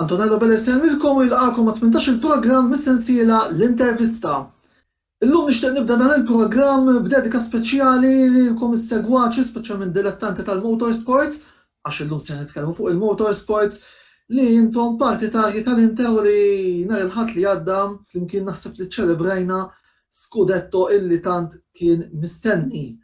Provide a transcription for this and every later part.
Antonello Belesem lilkom u jilqagħkom għat-18 il-programm mis-sensiela L-Intervista. Illum nixtieq nibda dan il-programm b'dedika speċjali lilkom is-segwaċi, speċjalment dilettanti tal-motorsports, għax illum se nitkellmu fuq il-motorsports, li intom partitarji tal-Inter u li nhar il-Ħadd li għadda flimkien naħseb li ċċelebrajna Scudetto illi tant kien mistenni.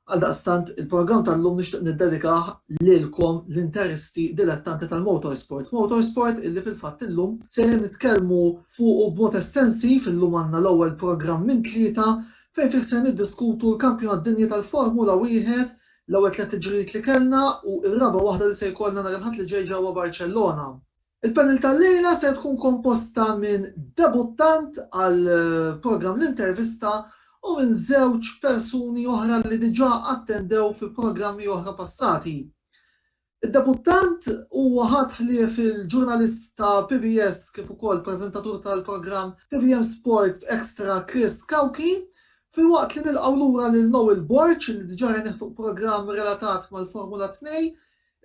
Għaldaqstant, il-programm tal-lum nixtieq niddedikah lilkom l-interisti dilettanti tal-motorsport, motorsport illi fil-fatt illum sejrin nitkellmu fuqu b'mod estensiv, illum għandna l-ewwel programm minn tlieta fejn fih ser niddiskutu l-Kampjonat Dinji tal-Formula Wieħed, l-ewwel tliet tiġrijiet li kellna u r-raba' waħda li se jkollna nhar il-Ħadd li ġej ġewwa Barċellona. Il-panel tal-lejla ser tkun komposta minn debuttant għal programm L-Intervista u minn żewġ persuni oħra li diġà attendew fi programmi oħra passati. Id-debuttant huwa ħadd ħlief il-ġurnalist ta' PBS kif ukoll preżentatur tal-programm tvm Sports Extra Chris Cauchi, filwaqt li nilqgħu lura lil Noel Borg li diġà rajnieh fuq programm relatat mal-Formula 2,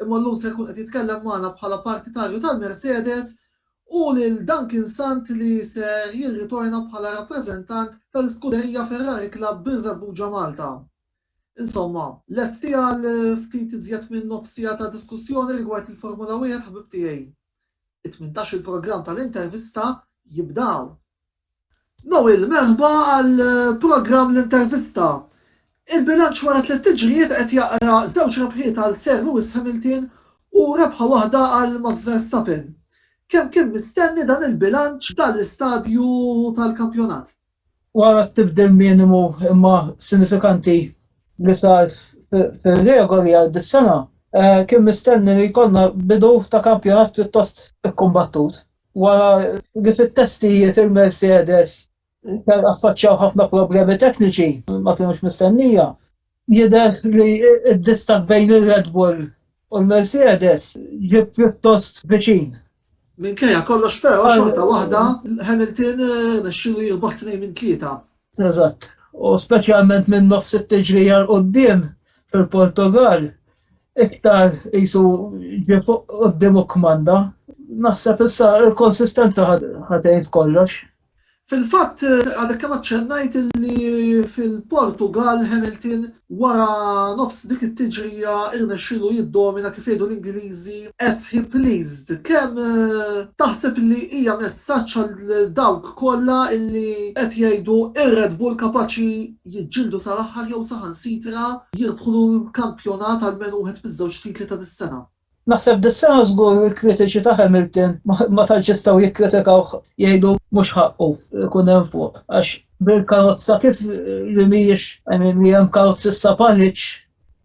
Imma llum se jkun qed jitkellem magħna bħala partitarju tal-Mercedes u lil Duncan Sant li se jirritorna bħala rappreżentant tal-iskuderija Ferrari Club Birżebbuġa Malta. Insomma, lesti għal ftit iżjed minn nofs siegħa ta' diskussjoni rigward il-Formula Wieħed ħbib tiegħi? It-tmintax-il programm tal-intervista jibda hawn! Noel, merħba għal programm L-Intervista. Il-bilanċ wara tliet tiġrijiet qed jaqra żewġ rebħiet għal Sir Lewis Hamilton u rebħa waħda għal Max Verstappen. Kemm kien mistenni dan il-bilanċ f'dan l-istadju tal-kampjonat? Wara t-tibdil minimu imma sinifikanti li sar fir-regoli għal dis-sena, kien mistenni li jkollna bidu ta' kampjonat pjuttost ikkumbattut. Wara li fit-testijiet il-Mercedes affaċċjaw ħafna problemi tekniċi ma kinux mistennija, jidher li d-distakk bejn ir-Red Bull u l-Mercedes ġie pjuttost viċin. Minkejja kollox però, xorta waħda Hamilton rnexxielu jirbaħ tnejn minn tlieta. Eżatt, u speċjalment minn nofs it-tiġrija 'l quddiem fil-Portugall, Iktar qisu ġie fuq quddiem u kkmanda. Naħseb issa l-konsistenza ħatgħin f'kollox. Fil-fatt, għadek kemm aċċennajt li fil-Portugall Hamilton wara nofs dik it-tiġrija rnexxielu jiddomina kif jgħidu l-Ingliżi as he pleased. Kemm taħseb li hija messaġġ għal dawk kollha li qed jgħidu r-Red Bull kapaċi jiġġieldu sal-aħħar jew saħansitra jirbħu l-kampjonat almenu wieħed miż-żewġ titli ta' dis-sena. Naħseb dis-sena żgur il-kritiċi ta' Hamilton ma tantx jistgħu jikkritikawh jgħidu mhux ħaqqu jkun hemm fuq għax bil-karozza kif li mhijiex, I mean li hemm karozzi issa bħal-hitch,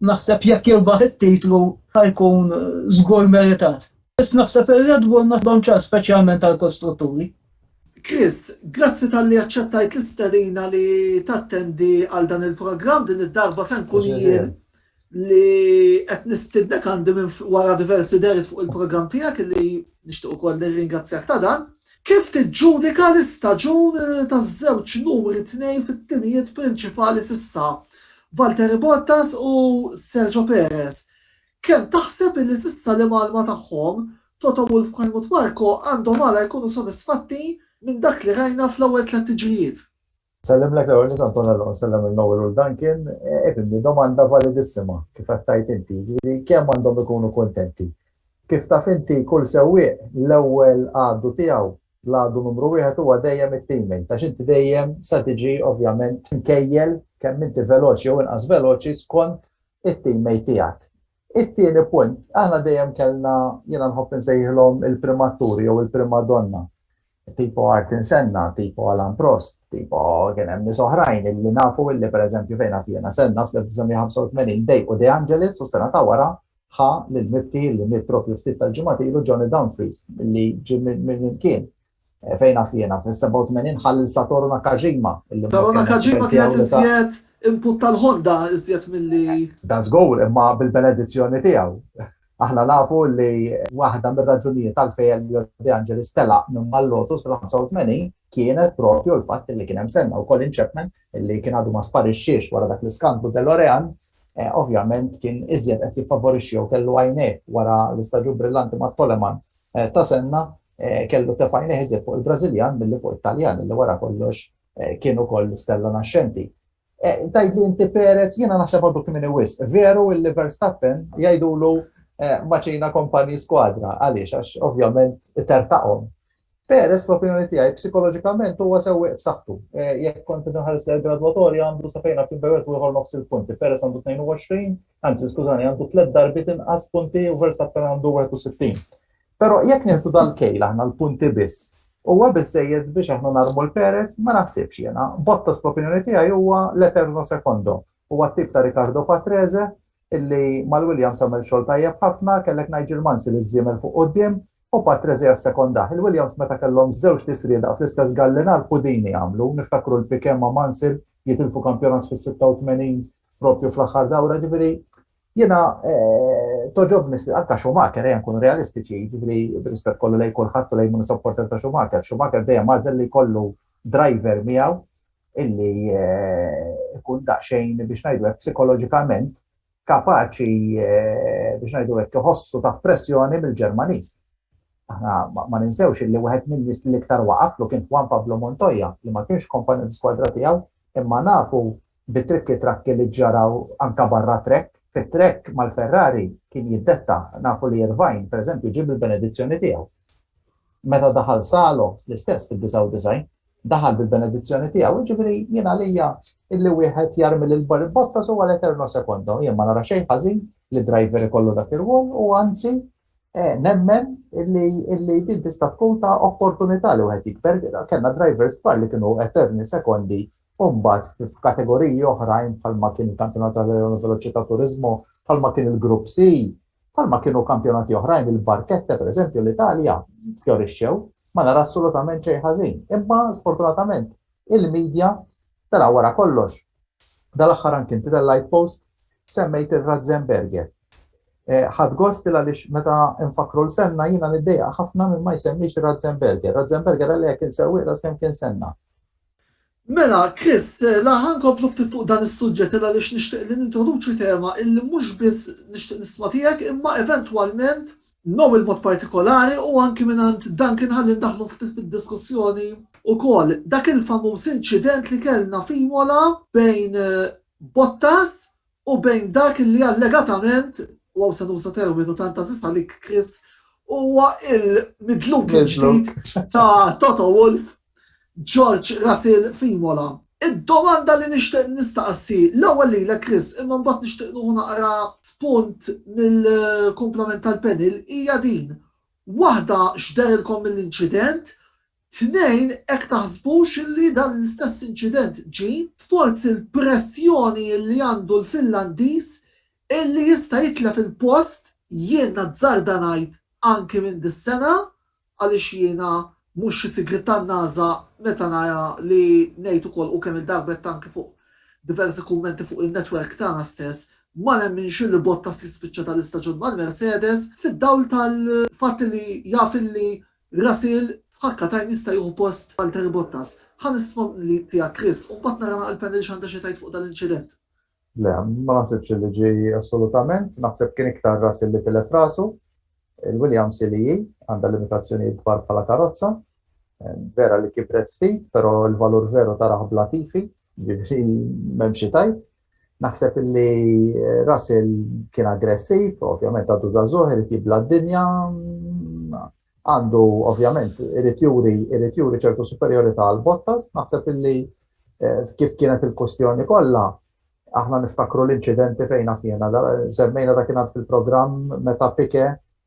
naħseb jekk jirbaħ it-titlu ħa jkun żgur meritat. Biss naħseb ir-Red Bull m'għandhomx ċans speċjalment għall-kostrutturi. Chris, grazzi talli aċċettajt l-istedina li tattendi għal dan il-programm din id-darba se nkun jien li qed nistidnek għandi minn wara diversi derit fuq il-programm tiegħek li nixtieq ukoll nirringrazzjak ta' dan. Kif tiġġudika l-istaġun taż-żewġ numri tnejn fit-timijiet prinċipali s'issa, Valtteri Bottas u Sergio Perez? Kemm taħseb li s'issa l-imgħallma tagħhom Toto Wolff u Helmut Marko għandhom għala jkunu sodisfatti minn dak li rajna fl-ewwel tliet tiġrijiet. Nsellimlek l-ewwel nett Antonello u nsellem lil Noel u l Duncan. Ifimni, domanda validissima kif qed tgħid inti, jiġifieri kemm għandhom ikunu kuntenti. Kif taf inti kull sewwieq l-ewwel għadu tiegħu, l-għadu numru wieħed huwa dejjem it-teammate għax inti dejjem se tiġi ovvjament mkejjel kemm inti veloċi jew inqas veloċi skont it-teammate tiegħek. It-tieni punt, aħna dejjem kellna, jiena nħobb insejħilhom il-primaturi jew il-primadonna. Tipo Artin Senna, tipo Alan Prost, tipo kien hemm nies oħrajn illi nafu illi pereżempju fejn naf jiena Senna fl-1985 dejqu De Angelis u sena ta' wara ħa lil mibki li miet propju ftit tal-ġimgħat ilu Johnny Dumfries li ġie minn kien Eh, fejn naf jiena, fil-87 ħall Satoru Nakajima. Satoru Nakajima kienet iżjed input tal-Honda iżjed mill-li. Da żgur, imma bil-benedizzjoni tiegħu. Aħna nafu li waħda mir-raġunijiet tal-fej Elio De Angelis telaq minn mal-Lotus fil-85 kienet propju l-fatt li kien hemm senna u Colin Chapman li kien għadu ma sparixxiex wara dak l-iskandlu Delorean eh, ovvjament kien iżjed qed jiffavorixxi u kellu għajnejh wara l-istaġun brillanti ma' Toleman Ta' Senna kellu tefa' għajnejh iżjed fuq il-Brażiljan milli fuq it-Taljan li wara kollox kien ukoll stella naxxenti. Tgħidli inti Perez, jiena naħseb għadu kmieni wisq. Veru li Verstappen jgħidulu maċina company squadra, għaliex għax ovvjament itertaqhom. Perez fl-opinjoni tiegħi psikoloġikament huwa sewwieq b'saħħtu. Jekk kont qed inħares lejn il-gradwatorja għandu safejn għal Kimberly u ieħor nofs il-punti. Perez għandu 22, Anzi, skużani, għandu tliet darbiet inqas punti u Verstappen għandu 61. Però jekk nieħdu dal-kejl aħna l-punti biss, huwa biżejjed biex aħna narmu l-Perez ma naħsibx jiena. Bottas fl-opinjoni tiegħi huwa l-eterno sekondo. Huwa t-tip ta' Ricardo Patrese illi mal-Williams għamel xogħol tajjeb ħafna, kellek Nigel Mansi li żiemel fuq quddiem u Patrese jassekondah. Il-Williams meta kellhom żewġ tisrieda fl-istess gallinar pudini għamlu, niftakru l-Piquet ma' Mansell jitilfu kampjonat fis-86 propju fl-aħħar dawra, ġifiri, jena eh, toġobni, anka Schumacher, jen kun realistiċi, ġifiri, rispet kollu lej kullħat u lej munu supporter ta' Schumacher, Schumacher dejjem mażel li kollu driver miegħu illi eh, ikun daqxejn biex najdu għek psikologikament kapaċi eh, biex najdu għek jħossu ta' pressjoni mill-Ġermanis. Aħna ma ninsewx illi wieħed minn nis li iktar waqaflu kien Juan Pablo Montoya li ma kienx kompanju skwadra tiegħu imma nafu bi trikki trakki li ġġaraw anke barra trekk, fit-trekk mal-Ferrari kien jiddetta, nafu li Irvine, pereżempju, ġieb il-benedizzjoni tiegħu. Meta daħal Salo, l-istess fid-99, daħal bil-benedizzjoni tiegħu, jiġifieri jien għalija illi wieħed jarmi lil Bottas huwa l-eterno secondo, jien ma nara xejn ħażin li driver ikollu dak ir-rwol u anzi Eh, nemmen illi din tista' tkun ta' opportunità li wieħed jikber, kellna drivers kbar li kienu eterni sekondi Umbat f'kategoriji oħrajn bħalma kien il-kampjonat tal-Leon Veloċità Turizmu, bħalma kien il-Grupp C, bħalma kienu kampjonati oħrajn il-Barkette per eżempju l-Italja fjorixxew, ma nara assolutament xejn ħażin. Imma sfortunatament il-media, tela' wara kollox, dal-aħħar anki inti tal-Light Post semmejt ir-Ratzenberger. Ħadd gost il għaliex meta nfakkru l-senna jiena niddejqa ħafna minn ma jsemmix ir-Ratzenberger. Ratzenberger għalija kien sewwieq ta' skemm kien senna. Mela, Chris, la ħa nkomplu ftit fuq dan is-suġġett il għaliex nixtieq li nintroduċi tema illi mhux biss nixtieq nisma' tiegħek imma eventwalment Nobel b'mod partikolari u anki mingħand Duncan ħalli ndaħħlu ftit fid-diskussjoni wkoll dak il-famuż inċident li kellna f'Imola bejn Bottas u bejn dak li allegatament, u hawn se nuża terminu tant għażiż għalik Chris, huwa l-midluk il-ġdid ta' Toto Wolff George Russell f'Imola. Id-domanda li nixtieq nistaqsi, l-ewwel lilek Chris, imma mbagħad nixtieq nieħu naqra spunt mill-kumplament tal-panel, hija din, waħda x'derilkom mill-inċident, tnejn hekk taħsbux li dan l-istess inċident ġie forsi l-pressjoni li għandu l-Finlandiż li jista' jitlef il-post, jien nazzarda ngħid anki minn dis-sena, Għaliex jiena mhux xi sigritan nażżaq meta nara li ngħid ukoll u kemm-il darba għedt anki fuq diversi kummenti fuq in-netwerk tagħna stess, ma nemminx illi Bottas jispiċċa ta' l-istaġun mal-Mercedes fid-dawl tal-fatt li jaf illi Russell f'ħakkatajn jista' jieħu post Valtteri Bottas. Ħa nisma' tiegħek Chris u mbagħad nara naqra l-panel x'għandha xi tgħid fuq dan l-inċident. Le, ma naħsibx li ġie assolutament. Naħseb kien iktar Russell li tilef rasu. Il-Williams CLE għandha limitazzjonijiet kbar bħala karozza. Vera li kibret ftit, però l-valur veru tarah bla tifi, jiġifieri m'hemm xi tgħid. Naħseb li Russell kien aggressiv, ovvjament għadu żagħżugħ irid jibla' d-dinja. għandu ovvjament irid juri irid juri ċertu superjorità għal Bottas, naħseb illi kif kienet il-kustjoni kollha, aħna niftakru l-inċidenti fejn fjena, semmejna dak kien fil-programm meta pike,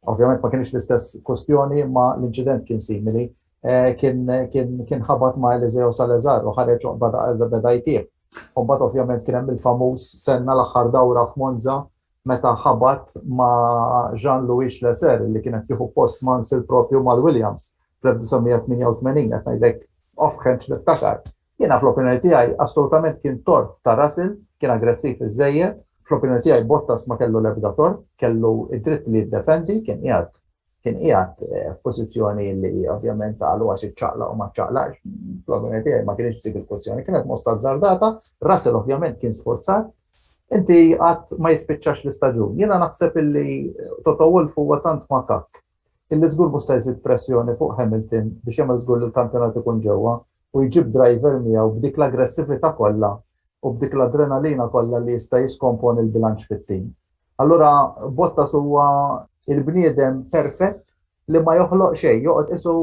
ovvjament ma kienx l-istess kustjoni imma l-inċident kien simili, eh, kien ħabat ma' Eliseo Salazar u ħareġ beda jtieħ. Umbat ovvjament kien hemm il-famuż senna l-aħħar dawra f'Monza meta ħabat ma' Jean-Louis Schlesser li kien qed jieħu post Mansell proprju mal-Williams fl-1988, qed ngħidlek offhand x'niftakar. Jiena fl-opinjoni tiegħi assolutament kien tort ta' Russell, kien aggressiv iżżejjed, fl-opinjoni tiegħi Bottas ma kellu l-ebda tort, kellu d-dritt li jiddefendi, kien qiegħed kien qiegħed f'pożizzjoni li ovvjament qalu għax iċċaqlaq u ma ċċaqlaqx, fl-opinjoni tiegħi ma kienx dik il-kwestjoni, kienet mossa azzardata, Russell ovvjament kien sforzat, inti qatt ma jispiċċax l-istaġun. Jiena naħseb illi Toto Wolff huwa tant makak illi żgur mhux se jżid pressjoni fuq Hamilton biex jagħmel żgur li l-kampjonat ikun ġewwa u jġib driver miegħu b'dik l-aggressività kollha u b'dik l-adrenalina kollha li jista' jiskomponi l-bilanċ fit-tim. Allura Bottas huwa il-bniedem perfett li ma joħloq xejn, joqgħod isu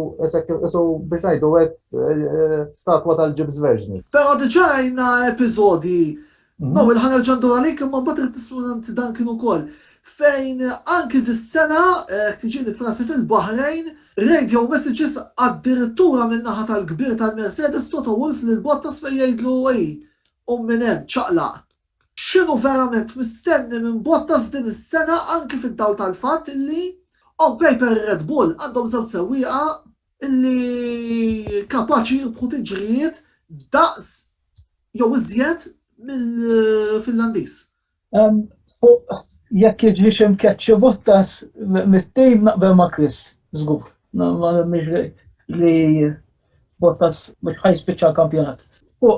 isu biex ngħidu hekk eh, eh, statwa tal-ġibs verġni. Però diġà għajna episodi mhm. No, il-ħana l-ġandur għalik imma mbagħad irid nissuranti dan kien ukoll. Fejn anki dis-sena eh, tiġi li frasi fil-Bahrejn, radio messages addirittura minn naħa tal-kbir tal-Mercedes Toto Wolf lil Bottas fejn jgħidlu ej, u minn hemm ċaqlaq. X'inhu verament mistenni minn Bottas din is-sena anki fid-dawl tal-fatt illi on paper ir-Red Bull għandhom żewġ sewwieqa illi kapaċi jirbħu tiġrijiet daqs jew iżjed mill-Finlandiż? Fuq jekk jiġrix imkeċċi Bottas mit-tim naqbel ma' Chris, żgur. Ma nemminx li Bottas mhux ħajspiċċa l-kampjonat. U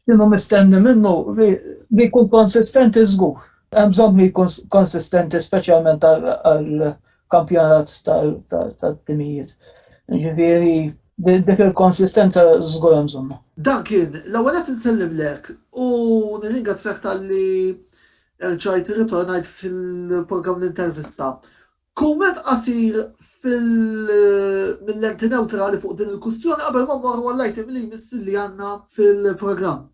kienu mistenni minnu li jkun konsistenti żgur. Hemm bżonn li jkun konsistenti speċjalment għall-kampjonat tal-timijiet. Ġifieri dik il-konsistenza żgur hemm bżonnha. Duncan, l-ewwel nett insellimlek u nirringrazzjak talli erġajt irritornajt fil-programm L-Intervista. Kumment qasir mill-Enti Newtrali fuq din il-kwistjoni qabel ma mmorru għall-item li jmiss li għandna fil-programm.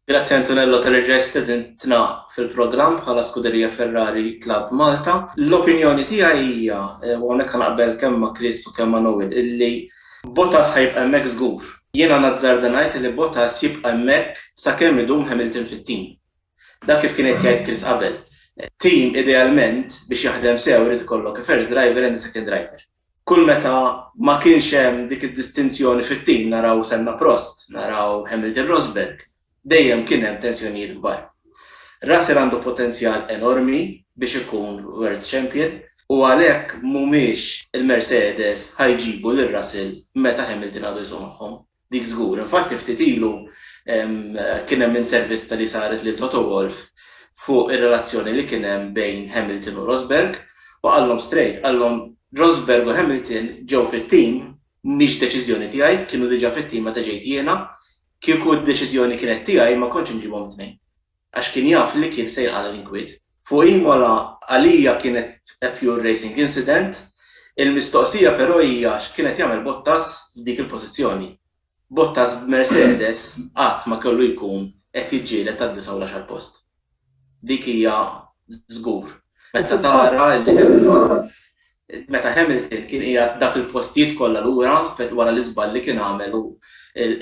Grazzi Antonello tal-li reġa' istedintna fil-programm bħala Scuderia Ferrari Club Malta. L-opinjoni tiegħi hija, u hawnhekk ħa naqbel kemm ma' Chris u kemm ma' Noel, illi Bottas ħa jibqa' hemmhekk żgur. Jiena nazzarda ngħid illi Bottas jibqa' hemmhekk sakemm idum Hamilton fit-tim. Dak kif kien qed jgħid Chris qabel, team idealment biex jaħdem sew irid ikollok first driver and a second driver. Kull meta ma kienx hemm dik id-distinzjoni fit-team, naraw Senna Prost, naraw Hamilton Rosberg, dejjem kien hemm tensjonijiet kbar. Russell għandu potenzjal enormi biex ikun World Champion u għalhekk mhumiex il-Mercedes ħa jġibu lil Russell meta Hamilton għadu jsuq magħhom. Dik żgur. Infatti ftit ilu kien hemm intervista li saret lil Toto Wolff fuq ir-relazzjoni li kien hemm bejn Hamilton u Rosberg u qallhom strejt, qallhom Rosberg u Hamilton ġew fit-tim, mhix deċiżjoni tiegħi, kienu diġà fit-tim meta ġejt jiena, kieku d-deċiżjoni kienet tiegħi ma kontx inġibhom it-tnejn. għax kien jaf li kien se jqala' l-inkwiet. Fuq Imola għalija kienet a pure racing incident, il-mistoqsija però hija x'kien qed jagħmel Bottas f'dik il-pożizzjoni. Bottas b'Mercedes qatt ma kellu jkun qed jiġġieled tad-disgħa u l-għaxar post. Dik hija żgur. Meta tara li hemm Meta Hamilton kien qiegħed dak il-postijiet kollha lura wara l-iżball li kien għamel u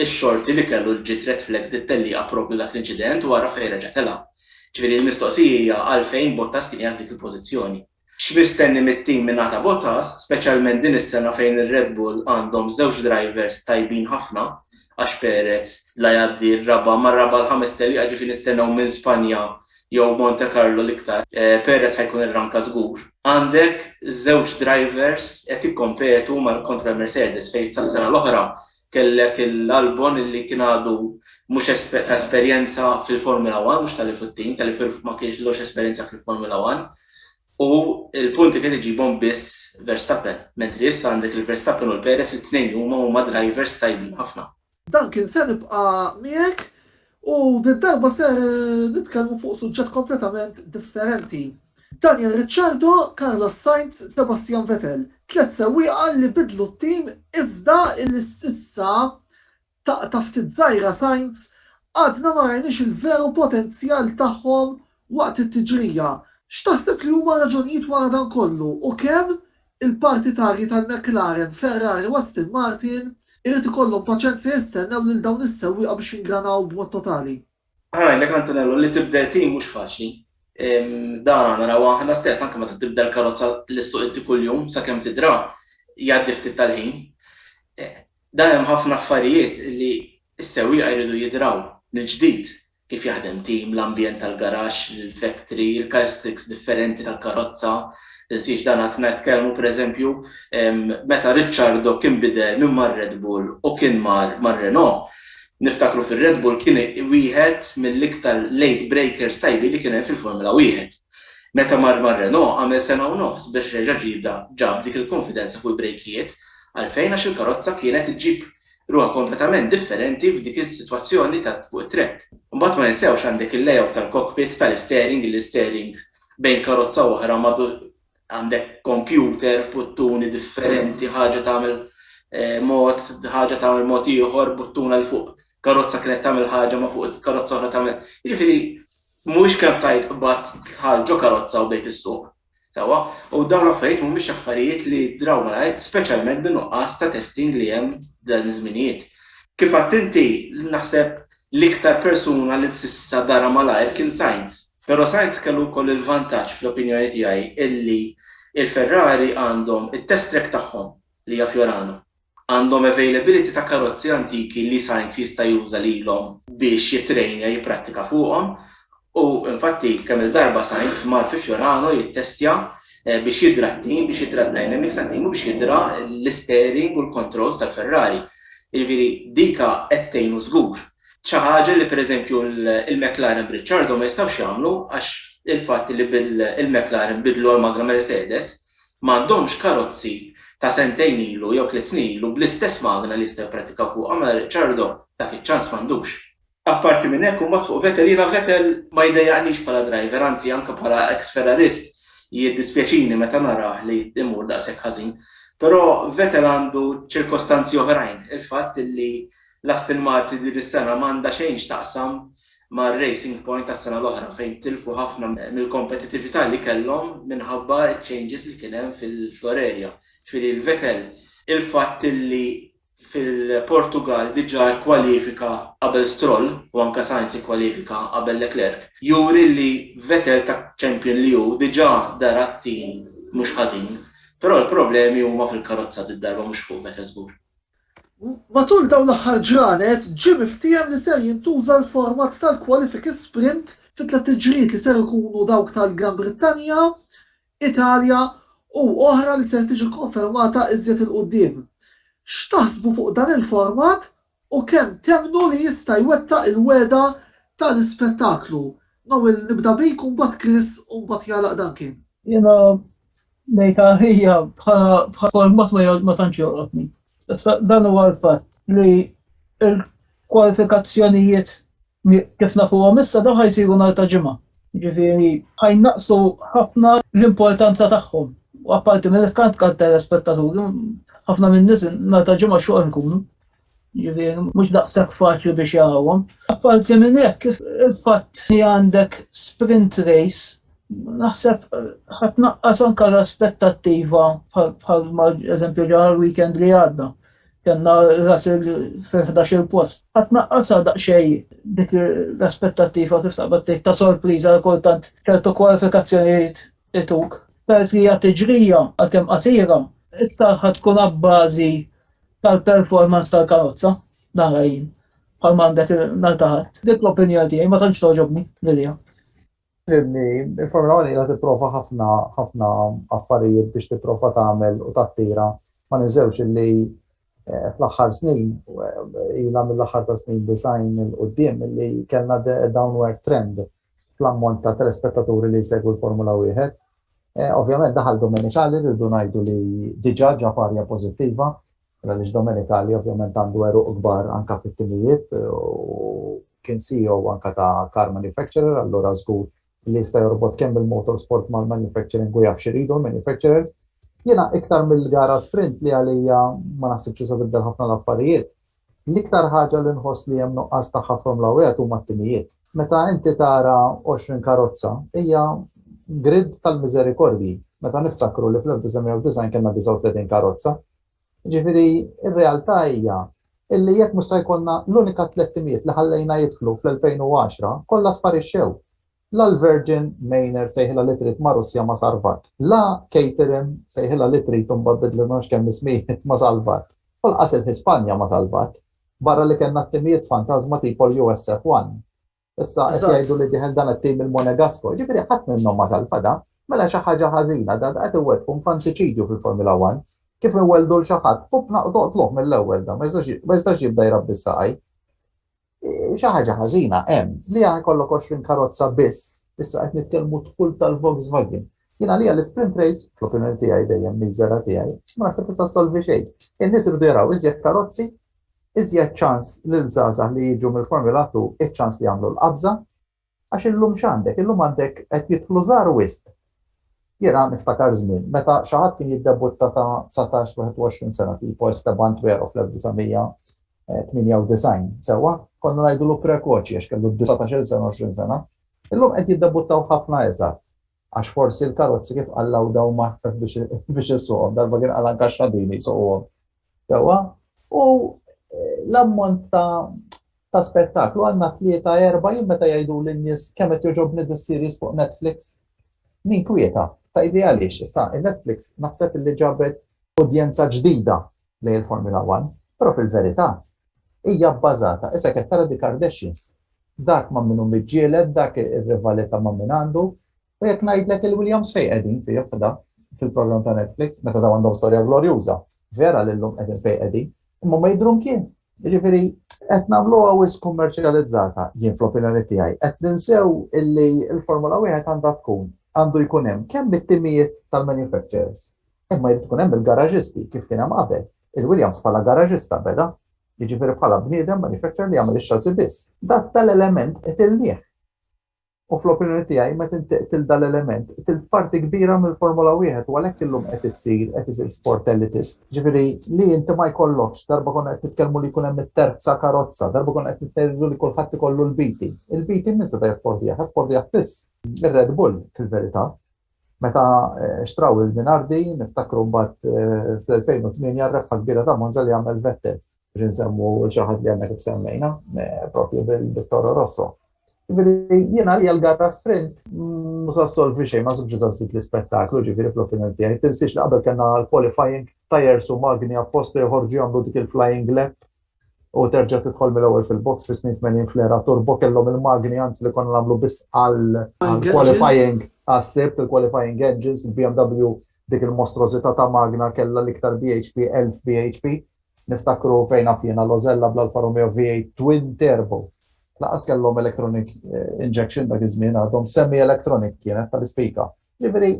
x-xorti li kellu ġiet red flagged it-tellieqa proprju dak l-inċident u ara fejn reġa' telgħa. Ġifieri l-mistoqsija hija għalfejn Bottas kien qiegħed f'dik il-pożizzjoni. X'mistenni mit-tim mingħata ta' Bottas, speċjalment din is-sena fejn ir-Red Bull għandhom żewġ drivers tajbin ħafna għax Perez la jgħaddi r-raba' mar-raba' l-ħames tellieqa ġifieri nistennew minn Spanja jew Monte Carlo l-iktar, perez ħa jkun irranka żgur, għandek żewġ drivers qed jikkompetu mal kontra l-Mercedes fejn sas-sena l-oħra kellek il-Albon illi kien għadu mhux ta' esperjenza fil-Formula One, mhux tal-F u t-tim, tal-F ma kellux esperjenza fil-Formula One u l-punti kien iġibhom biss Verstappen, mentri issa għandek il-Verstappen u l-Perez it-tnejn huma huma drivers tajbin ħafna. Duncan se nibqa' miegħek u did-darba ser nitkellmu fuq suġġett kompletament differenti. Daniel Ricciardo, Carlos Sainz, Sebastian Vettel, tliet sewwieqa li biddlu t-tim iżda illi s'issa, taqta' ftit żgħira Sainz, għadna ma rajniex il-veru potenzjal tagħhom waqt it-tiġrija, x'taħseb li huma r-raġunijiet wara dan kollu u kemm il-partitarji tal-McLaren, Ferrari u Aston Martin irid ikollhom paċenza jistennew lil dawn is-sewwieqa biex jingranaw b'mod totali? Ħa ngħidlek Antonello li tibdel tim mhux faċli. Dan naraw aħna stess anke meta tibdel karozza li ssuq inti kuljum sakemm tidra jgħaddi ftit tal-ħin. Dan hemm ħafna affarijiet li s-sewwieqa jridu jidraw mill-ġdid kif jaħdem tim, l-ambjent tal-garaxx, l-factory, il-characteristics differenti tal-karozza, tinsiex dan għadna nitkellmu pereżempju meta Ricciardo kien bidel minn mar-Red Bull u kien mar mar-Renault, niftakru fir-Red Bull kien wieħed mill-iktar late breakers tajbin li kien hemm fil-Formula Wieħed. Meta mar mar-Renault għamel sena u nofs biex reġa' ġiebha ġab dik il-kunfidenza fuq il-brejkijiet, għalfejn għax il-karozza kienet iġġib Ruħ kompletament differenti f'dik is-sitwazzjoni ta' fuq it-trekk. Imbagħad ma ninsewx għandek il-layout tal-cockpit, tal-isteering, il-isteering bejn karozza u oħra madur għandek kompjuter, buttuni differenti, ħaġa tagħmel mod, ħaġa tagħmel mod ieħor, buttuna 'l fuq karozza kienet tagħmel ħaġa ma fuq il-karozza oħra tagħmel. Jiġifieri mhuwiex kemm tajt qbadt dħalt ġo karozza u bdejt issuq. Sewwa, u dawn l-affarijiet mhumiex affarijiet li jidhraw malajr, speċjalment bin-nuqqas ta' testing li hemm f'dawn iż-żminijiet. Kif għidt inti, naħseb l-iktar persuna li s'issa dara malajr kien Sainz. Però Sainz kellu wkoll il-vantaġġ fl-opinjoni tiegħi illi l-Ferrari għandhom it-test track tagħhom li hija Fiorano. Għandhom availability ta' karozzi antiki li Sainz jista' juża lilhom biex jittrejnja jipprattika fuqhom u infatti kemm-il darba Sainz mar fi Fiorano jittestja biex jidra t-tim, biex jidra d-dynamics tat-tim u biex jidra l-isteering u l-controls tal-Ferrari. Jiġifieri dika qed tgħinu żgur. Xi ħaġa li pereżempju l-McLaren b'Ricciardo ma jistgħux jagħmlu għax il-fatt li bil-McLaren bidlu għall-magna Mercedes ma għandhomx karozzi ta' sentejn ilu jew tliet snin ilu bl-istess magna li jistgħu jipprattikaw fuqha mela Ricciardo dak iċ-ċans m'għandux. Apparti minn hekk u mbagħad fuq Vettel jiena Vettel ma jdejjaqnix bħala driver anzi anke bħala ex Ferrarist jiddispjaċini meta narah li jmur daqshekk ħażin. Però Vettel għandu ċirkostanzi oħrajn, il-fatt li l-Aston Martin din is-sena m'għandha xejn x'taqsam ma' Racing Point tas-sena l-oħra fejn tilfu ħafna mill-kompetitività li kellhom minħabba ċ-changes li kien hemm fil-floor area. Ġifieri l-Vettel il-fatt li fil-Portugall diġà kkwalifika qabel Stroll u anke Sainz ikkwalifika qabel Leclerc juri li Vettel ta' champion li hu diġà dar għat-tim mhux ħażin. Però l-problemi huma fil-karozza did-darba mhux fuq Vettel żgur. Matul dawn l-aħħar ġranet ġie miftiehem li ser jintuża l-format tal-kwalifiki sprint fi tliet tiġrijiet li ser ikunu dawk tal-Gran Brittanja, Italja u oħra li ser tiġi kkonfermata iżjed 'il quddiem. X'taħsbu fuq dan il-format u kemm temmnu li jista' jwettaq il-wegħda tal-ispettaklu? Noel nibda bik u mbagħad Chris u mbagħad jagħlaq Duncan. Jiena Lejta hija bħala format ma tantx joqgħodni. Issa dan huwa l-fatt li l-kwalifikazzjonijiet kif nafuhom issa dawn ħajsiru nhar ta' ġimgħa. Ġifieri ħajnaqsu ħafna l-importanza tagħhom. U apparti minn kant kant telespettaturi, ħafna minn nies nhar ta' ġimgħa xogħol nkunu. Ġifieri mhux daqshekk faċli biex jarawhom. Apparti minn hekk, il-fatt li għandek sprint race naħseb ħadd naqqas anke l-aspettattiva bħal ma eżempju ġara l-weekend li għadda. Kenna Russell fil-11 il-post. Ħadd naqqasha daqsxejn dik l-aspettattiva kif taqbad tgħid ta' sorpriża kultant ċertu kwalifikazzjonijiet ituk. Peress li hija tiġrija għalkemm qasira, iktar ħadd tkun abbażi tal-performance tal-karozza, nara jien, bħal m'għandek nhar ta' ħadd. Dik l-opinjoni tiegħi ma tantx togħġobni lilha. Fimni, il-Formula 1 ilha tipprova ħafna ħafna affarijiet biex tipprova tagħmel u tattira. Ma ninżewx illi eh, fl-aħħar snin, eh, ilha mill-aħħar ta' snin design il-qudiem illi kellna downward trend fl-ammont ta' telespettaturi li jsegwu l-Formula Wieħed. Ovvjament daħal Domenicali li rridu ngħidu li diġà ġab arja pożittiva, għaliex Domenicali ovvjament għandu għeruq kbar anke fit-timijiet u kien CEO anke ta' car manufacturer, allura żgur li jista' jorbot kemm il-motorsport mal-manufacturing u jaf x'iridu l-manufacturers. Jiena iktar mill-gara sprint li għalija ma naħsibx li se tibdel ħafna l-affarijiet, L-iktar ħaġa li nħoss li hemm nuqqas tagħha from l-għawejjat huma t-timijiet. Meta inti tara għoxrin karozza, hija grid tal-miżerikordji, meta niftakru li fl-1990 kellna 39 karozza. Jiġifieri r-realtà hija illi jekk mhux se jkollna l-unika tliet timijiet li ħallejna jidħlu fl-2010, kollha sparixxew. La l-Virgin Maynard sejħilha li trid ma' Russja ma salvat. La Caterham sejħilha li trid u mbagħad bidlu ma nafx kemm ismijiet ma salvat. U lqas il-Hispanja ma salvat. Barra li kellna t-timijiet fantażma tipo l-USF One. Issa qed jgħidu li dieħel dan it-tim il-Monegasco. Jiġifieri ħadd minnhom ma salva da. Mela xi ħaġa ħażina da da qed iwettqu nfantiċidju fil-Formula One. Kif inwelldu 'l xi ħadd, pupna u toqtluh mill-ewwel da ma jistax jibda jrabbi s-saqajn. Xi ħaġa ħażina hemm li jkollok 20 karozza biss, issa qed nitkellmu dħul tal-Volkswagen. Jien għalija l-sprint race, fl-opinjoni tiegħi dejjem miżera tiegħi, ma naħseb tista' solvi xejn. In-nies irdu jaraw iżjed karozzi, iżjed ċans lil żgħażagħ li jiġu mill-Formula 2, iċ-ċans li jagħmlu l-qabża, Għax illum x'għandek? Illum għandek qed jidħlu żgħar wisq. Jiena niftakar żmien meta xi ħadd kien jiddebutta ta' dsatax, wieħed u għoxrin sena tipo Esteban Tuero fl-1998, sewwa? Konna ngħidulu prekoċi għax kellu dsatax-il sena, għoxrin sena. Illum qed jiddebuttaw ħafna iżgħar. Għax forsi l-karozzi kif qal Lauda huma aħfef biex issuqhom, darba kien qal anke x-xadini jsuquhom sewwa. U l-ammont ta' ta' spettaklu għandna tlieta erba' jien meta jgħidu lin-nies kemm qed jogħġobni dis-series fuq Netflix. Ninkwieta, tgħidli għaliex? Issa, in-Netflix naħseb li ġabet udjenza ġdida lejn il-Formula One, però fil-verità hija bbażata, issa qed tara the Kardashians, dak ma' min hu miġġieled, dak ir-rivalità ma' min għandu, u jekk ngħidlek il-Williams fejn qegħdin fih da fil-programm ta' Netflix, meta dawn għandhom storja glorjuża, vera li llum qegħdin fejn qegħdin, imma ma jidhru mkien. Jiġifieri qed nagħmluha wisq kummerċjalizzata, jien fl-opinjoni tiegħi, qed ninsew illi l-Formula Wieħed għandha tkun għandu jkun hemm kemm it-timijiet tal-manufacturers, Imma jrid ikun hemm il-garaġisti kif kien hemm qabel. Il-Williams bħala garaġista beda. Jiġifieri bħala bniedem manufacturer li jagħmel ix-xażi biss. Dak ta' l-element qtilnieh. U fl-opinjoni tiegħi meta inti qtilt dan l-element, qtilt parti kbira mill-Formula Wieħed u għalhekk illum qed issir, qed isir sport elitist. Jiġifieri li inti ma jkollokx, darba konna qed nitkellmu li jkun hemm it-terza karozza, darba konna qed nitkellmu li kulħadd ikollu l-BT. Il-BT min seta' jaffordihha? Jaffordihha biss ir-Red Bull fil-verità. Meta xtraw il-Minardi, niftakru mbagħad fl-2008 r-rebħa kbira ta' Monza li għamel Vettel. Biex insemmu xi ħadd li għadna kif semmejna, proprju bil-Toro Rosso. Ġifieri jien għalija l-gara sprint ma se ssolvi xejn, ma żgħidx li se żżid l-ispettaklu, ġifieri fl-opinjoni tiegħi. Tinsiex li qabel kellna l-qualifying, tyres u magni apposta joħorġu jagħmlu dik il-flying lap u terġa' tidħol mill-ewwel fil-box fis-snin tmenin fl-era turbo kellhom il-magni anzi li konna nagħmlu biss għall-qualifying għas-Sibt, il-qualifying engines, il-BMW dik il-mostrożità ta' magna kellha l-iktar bhp, 1000 bhp. Niftakru fejn naf jiena l-Osella bl-Alfa Romeo V8 twin turbo. Lanqas kellhom electronic injection dak iż-żmien għadhom, semi-electronic kienet tal-ispika. Jiġifieri,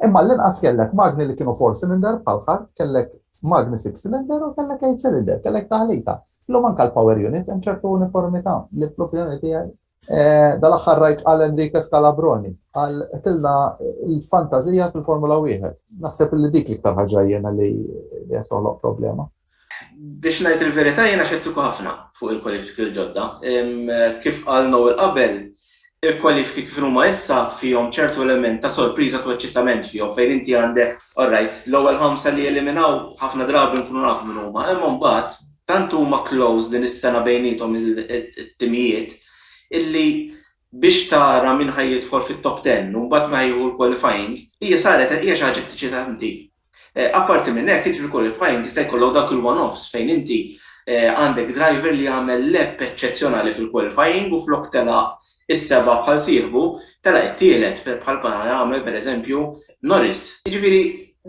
imma l-inqas kellek magni li kienu four cylinder bħal ħart, kellek magni six cylinder u kellek eight cylinder, kellek taħlita. Illum anke l-power unit hemm ċertu uniformità li fl-opinjoni tiegħi eh, dal-aħħar rajt għal Enrique Scalabroni, għal tilna l-fantazija fil-Formula 1. Naħseb li dik l-iktar ħaġa jena li jgħatoloq problema. Biex ngħid il-verità jiena xettiku ħafna fuq il-kwalifiki l-ġodda. Kif qal Noel qabel, il-kwalifiki kif inhuma issa fihom ċertu element ta' sorpriża u eċċitament fihom fejn inti għandek, alright, l-ewwel ħamsa li jeliminaw ħafna drabi nkunu nafu min huma, imma mbagħad tant huma close din is-sena bejniethom it-timijiet illi biex tara min ħa jidħol fit-top ten u mbagħad min ħa jieħu l-qualifying hija saret hija xi ħaġa eċċitanti Apparti minn hekk, jiġri wkoll li f'Hajnki jista' jkollok dawk il-one-offs fejn inti għandek driver li għamel lap eċċezzjonali fil-qualifying u flok telaq is-seba' bħal sieħbu, telaq it-tielet bħal bħal għamel pereżempju Norris. Jiġifieri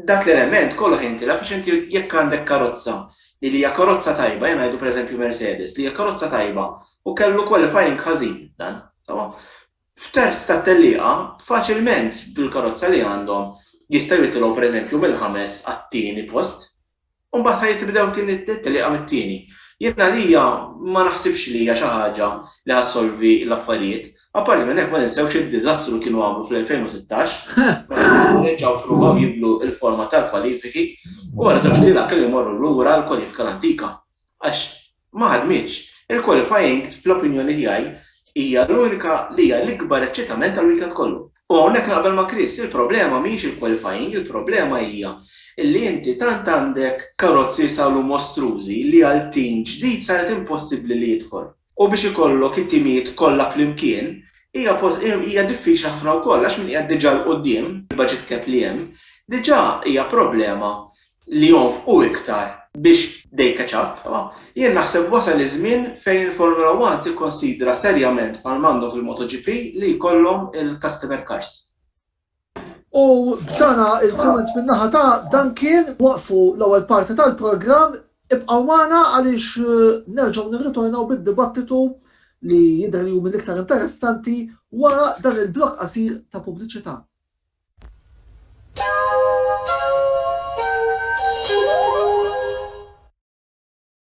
dak l-element kollox jintilef għax inti jekk għandek karozza li li hija karozza tajba, ejja ngħidu pereżempju Mercedes, li hija karozza tajba u kellu qualifying ħażin dan, sewwa? F'terz tat-tellieqa, faċilment bil-karozza li għandhom jistgħu jitilgħu pereżempju mill-ħames għat-tieni post. U mbagħad ħa jitbdew tieni t-tellieqa mit-tieni. Jien għalija ma naħsibx li hija xi ħaġa li ħa ssolvi l-affarijiet. Apparti minn hekk ma ninsewx id-diżastru li kienu għamlu fl-2016 meta kienu reġgħu ppruvaw jibdlu l-forma tal-kwalifiki u wara żewġt lejlat kellu jmorru lura l-kwalifika l-antika. Għax ma ħadmitx. Il-qualifying, fl-opinjoni tiegħi, hija l-unika li hija l-ikbar eċċitament tal-weekend kollu. U hawnhekk naqbel ma' Chris, il-problema mhijiex il-qualifying, il-problema hija li inti tant għandek karozzi jisawlu mostrużi li għal tim ġdid saret impossibbli li jidħol. U biex ikollok it-timijiet kollha flimkien hija hija diffiċli ħafna wkoll għax min qiegħed diġà 'l quddiem bil-budget cap li hemm, diġà hija problema li jonfqu iktar biex they catch up. Jien naħseb wasal iż-żmien fejn il-Formula One tikkonsidra serjament bħalma għandhom fil-MotoGP li jkollhom il-customer cars. U b'dana il-komment minnaħa ta' dan kien waqfu l-ewwel parti tal-programm ibqgħu magħna għaliex eh, nerġgħu nirritornaw bid-dibattitu li jidher li huma l-iktar interessanti wara dan il-blok qasir ta' pubbliċità.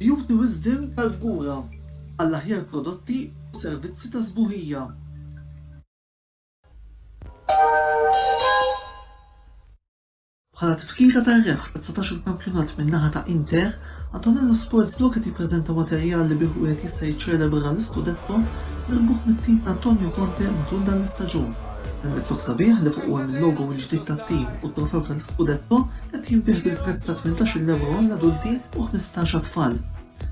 Beauty Wisdom tal-Fgura, għall-aħjar prodotti u servizzi ta' sbuħija. Bħala tifkira tar-rebħ ta' dsatax-il kampjonat min-naħa ta' Inter, Antonello Sports Blu qed jippreżenta materjal li bih wieħed jista' jiċċelebra l-iskudetto mirbuħ mit-tim ta' Antonio Conte matul dan l-istaġun. Helmet lok sabiħ li fuqu hemm il-logo l-ġdid tat-tim u t-trofew tal-iskudetto, Qed jinbiegħ bil-prezz ta' tmintax-il ewro għall-adulti u ħmistax għat-tfal.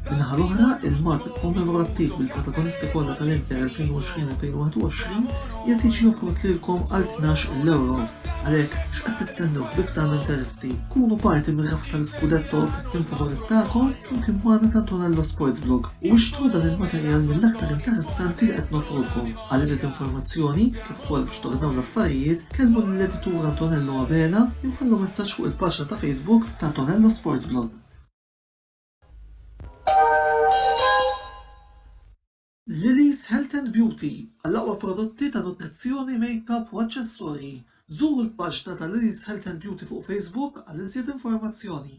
Min-naħa l-oħra, il-mark kommemorattiv bil-protagonisti kollha tal-Inter 2020-2021 qiegħed jiġi offrut lilkom għal tnax-il ewro. Għalhekk, x'qed tistennew ħbieb tagħna Interisti? Kunu parti mir-rebħ tal-iskudetto tat-tim favorit tagħkom flimkien magħna t'Antonello Sportsblog u ixtru dan il-materjal mill-aktar interessanti li qed noffrulkom. Għal iżjed informazzjoni, B'kolp x'torr dawn l-affarijiet kellmu lill-editur Antonello Abela li nħallu messaġġ fuq il-paġna ta' Facebook ta' Antonello Sports Blog. Lily's Health and Beauty, Għall-aqwa prodotti ta' nutrizzjoni, makeup u aċċessorji, żuru l-paġna ta' Lily's Health and Beauty fuq Facebook għal iżjed informazzjoni.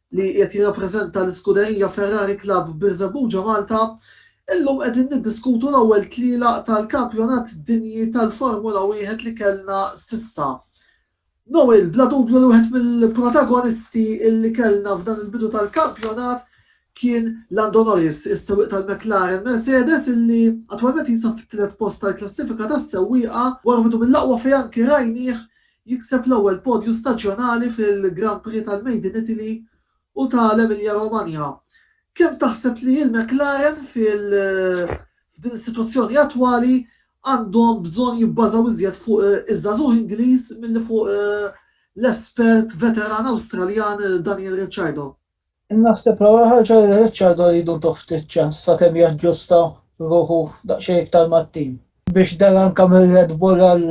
li qiegħed jirrappreżenta l-iskuderija Ferrari Club Birżebbuġa Malta, illum qegħdin niddiskutu l-ewwel tlielaq tal-Kampjonat Dinji tal-Formula Wieħed li kellna s'issa. Noel, bla dubju li wieħed mill-protagonisti li kellna f'dan il-bidu tal-kampjonat kien Lando Norris, is-sewwieq tal-McLaren Mercedes illi attwalment jinsab fit-tielet post tal-klassifika tas-sewwieqa wara bidu mill-aqwa fejn anki rajnieh jikseb l-ewwel podju staġjonali fil-Grand Prix tal-Made in Italy u ta' l-Emilia Romagna. Kemm taħseb li l-McLaren f'din is-sitwazzjoni attwali għandhom bżonn jibbażaw iżjed fuq iż-żagħżugħ Ingliż milli fuq l-espert veteran Awstraljan Daniel Ricciardo? Naħseb l-ewwel ħaġa li Richard iridutu ftit ċans sakemm jaġġusta ruħu daqsxejn iktar mat-tim. Biex dar anke mir-Red Bull għal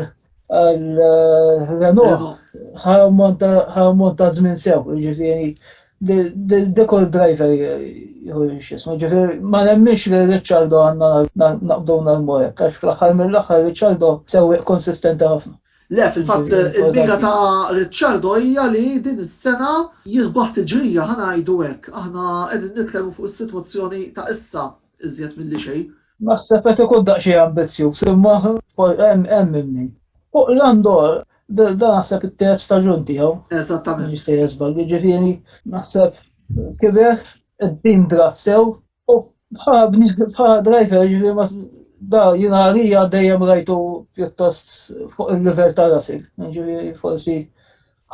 Renault ħa ammont ta' żmien sew, jiġifieri dik kull driver jieħu x'ismu. Ġifieri ma nemminx li Richardo għandna naqbdu nagħmlu hekk għax fl-aħħar mill-aħħar Richardo sewwieq konsistenti ħafna. Le, fil-fatt il-mira ta' Ricciardo hija li din is-sena jirbaħ tiġrija, ħa ngħidu hekk. Aħna qegħdin nitkellmu fuq is-sitwazzjoni ta' issa iżjed milli xejn. Naħseb qed ikun daqsxejn ambizzjuż imma hemm minn min. Fuq Landor, dan naħseb it-terz staġun tiegħu. Eżattament. M'iniex sejjer żball. Jiġifieri naħseb kiber, iddindra sew, U bħa driver, ġifieri ma da jiena għalija dejjem rajtu pjuttost fuq il-livell ta' Russell. Ġifieri forsi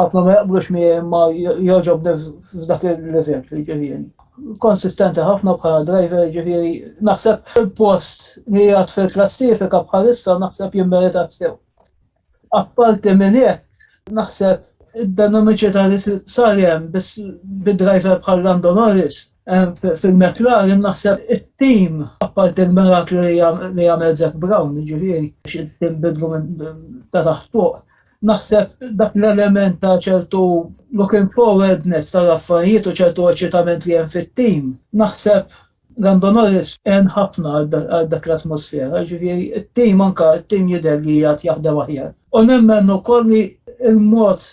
ħafna ma jaqblux mi ma jogħġobni f'dak il-livell, ġifieri. Konsistenti ħafna bħala driver, ġifieri naħseb il-post li jgħat fil-klassifika bħalissa naħseb jimmerita sew. Apparti minn hekk, naħseb id-dinamiċità li sar hemm bid-driver bħal Lando Norris fil-McLaren naħseb it-tim apparti l-miraklu li jagħmel Zac Brown, ġifieri it-tim bidlu ta' taħt fuq. Naħseb dak l-element ta' ċertu looking forwardness tal-affarijiet u ċertu eċitament li hemm fit-tim. Naħseb Randonores għen ħafna għal dak l-atmosfera, ġifieri t-tim anke t-tim jidher li għad jaħdem aħjar. U nemmen ukoll li l-mod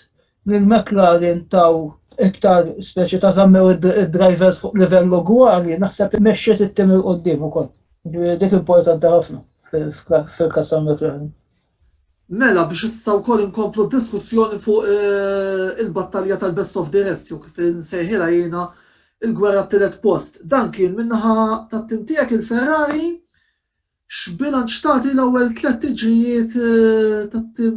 li l-McLaren taw iktar speċi ta' żammew id-drivers fuq livell ugwali naħseb li mexxiet it-tim 'il quddiem ukoll. Ġifieri dik importanti ħafna fil-każ tal-McLaren. Mela biex issa wkoll inkomplu d-diskussjoni fuq il-battalja tal-best of the rest jew kif insejħilha jiena l-gwerra t-tielet post. Dan kien min-naħa tat-tim tiegħek il-Ferrari. X'bilanċ tagħti l-ewwel tlett tiġrijiet tat-tim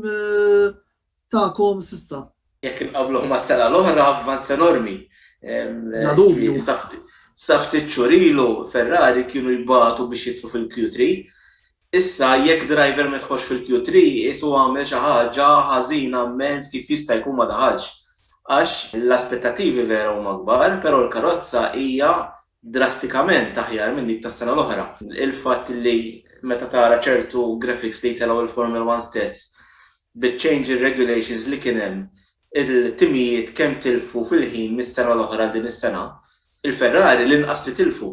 tagħkom s'issa. Jekk inqabbluh mas-sena l-oħra, avvanz enormi. Bla dubju. Sa ftit xhur ilu Ferrari kienu jbatu biex jidħlu fil-Q3. Issa jekk driver ma jidħolx fil-Q3 qisu għamel xi ħaġa ħażina mmens kif jista' jkun ma daħalx. Għax l-aspettattivi vera huma kbar, però l-karozza hija drastikament aħjar minn dik tas-sena l-oħra. Il-fatt li meta tara ċertu graphics li jtellgħu il-Formula One stess, biċ-change in regulations li kien hemm, il-timijiet kemm tilfu fil-ħin mis-sena l-oħra għal din is-sena, il-Ferrari l-inqas li tilfu.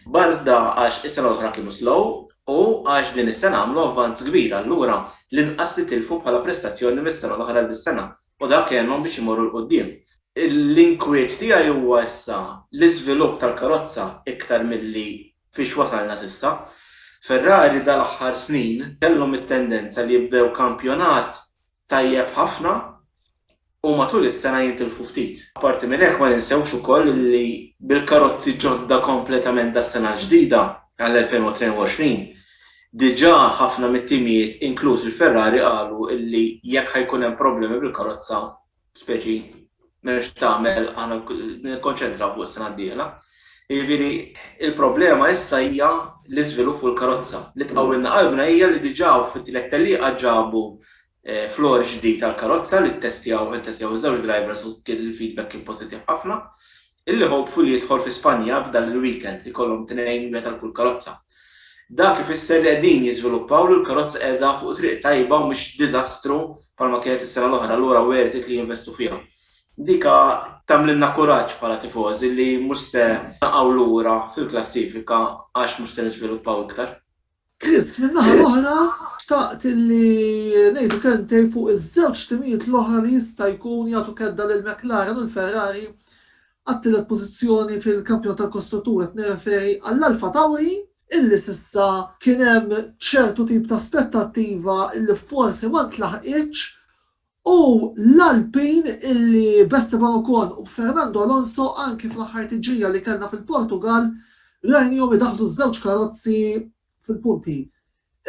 Barda għax is-sena l-oħra kienu slow u għax din is-sena għamlu avvanz kbir, allura l-inqas li tilfu bħala prestazzjoni mis-sena l-oħra għal dis-sena, u dak għenhom biex imorru 'l quddiem. L-inkwiet tiegħi huwa issa l-iżvilupp tal-karozza iktar milli fiex wasalna s'issa. Ferrari dal-aħħar snin kellhom it-tendenza li jibdew kampjonat tajjeb ħafna u matul is-sena jintilfu ftit. Apparti minn hekk ma ninsewx ukoll li bil-karozzi ġodda kompletament das-sena l-ġdida, għall-2022, Diġà ħafna mit-timijiet, inkluż il-Ferrari, qalu li jekk ħa jkun hemm problemi bil-karozza, speċi, m'hemm x'tagħmel, aħna nikkonċentraw fuq is-sena d-dieħla. Jiġifieri, il-problema issa hija l-iżvilupp fuq il-karozza. Li tqawwilna qalbna hija li diġà fit-tliet tellieqa ġabu Floor ġdid għall-karozza li ttestjawh ittestjaw iż-żewġ drivers u kien il-feedback kien pożittiv ħafna. Illi hopeful jidħol fi Spanja f'dan il-weekend li jkollhom tnejn wieħed għal kull karozza. Dak ifisser li qegħdin jiżviluppaw li l-karozza qiegħda fuq triq tajba u mhix diżastru bħalma kienet is-sena l-oħra allura worth it li jinvestu fiha. Dika tagħmlilna kuraġġ bħala tifożi li mhux se naqgħu lura fil-klassifika għax mhux se niżviluppaw iktar. Chris, min-naħa l-oħra, xtaqt li ngħidu kelmtejn fuq iż-żewġ timijiet l-oħra li jista' jkun jagħtu kedda lil McLaren u l-Ferrari għat-tielet pożizzjoni fil-Kampjonat tal-Kostruttur, qed nirreferi għall-Alpha Tauri, illi s'issa kien hemm ċertu tip ta' aspettattiva illi forsi ma ntlaħqitx U l-Alpin illi b'Esteban Ocon u b'Fernando Alonso anki fl-aħħar tiġrija li kellna fil-Portugall rajnihom idaħħlu ż-żewġ karozzi fil-punti.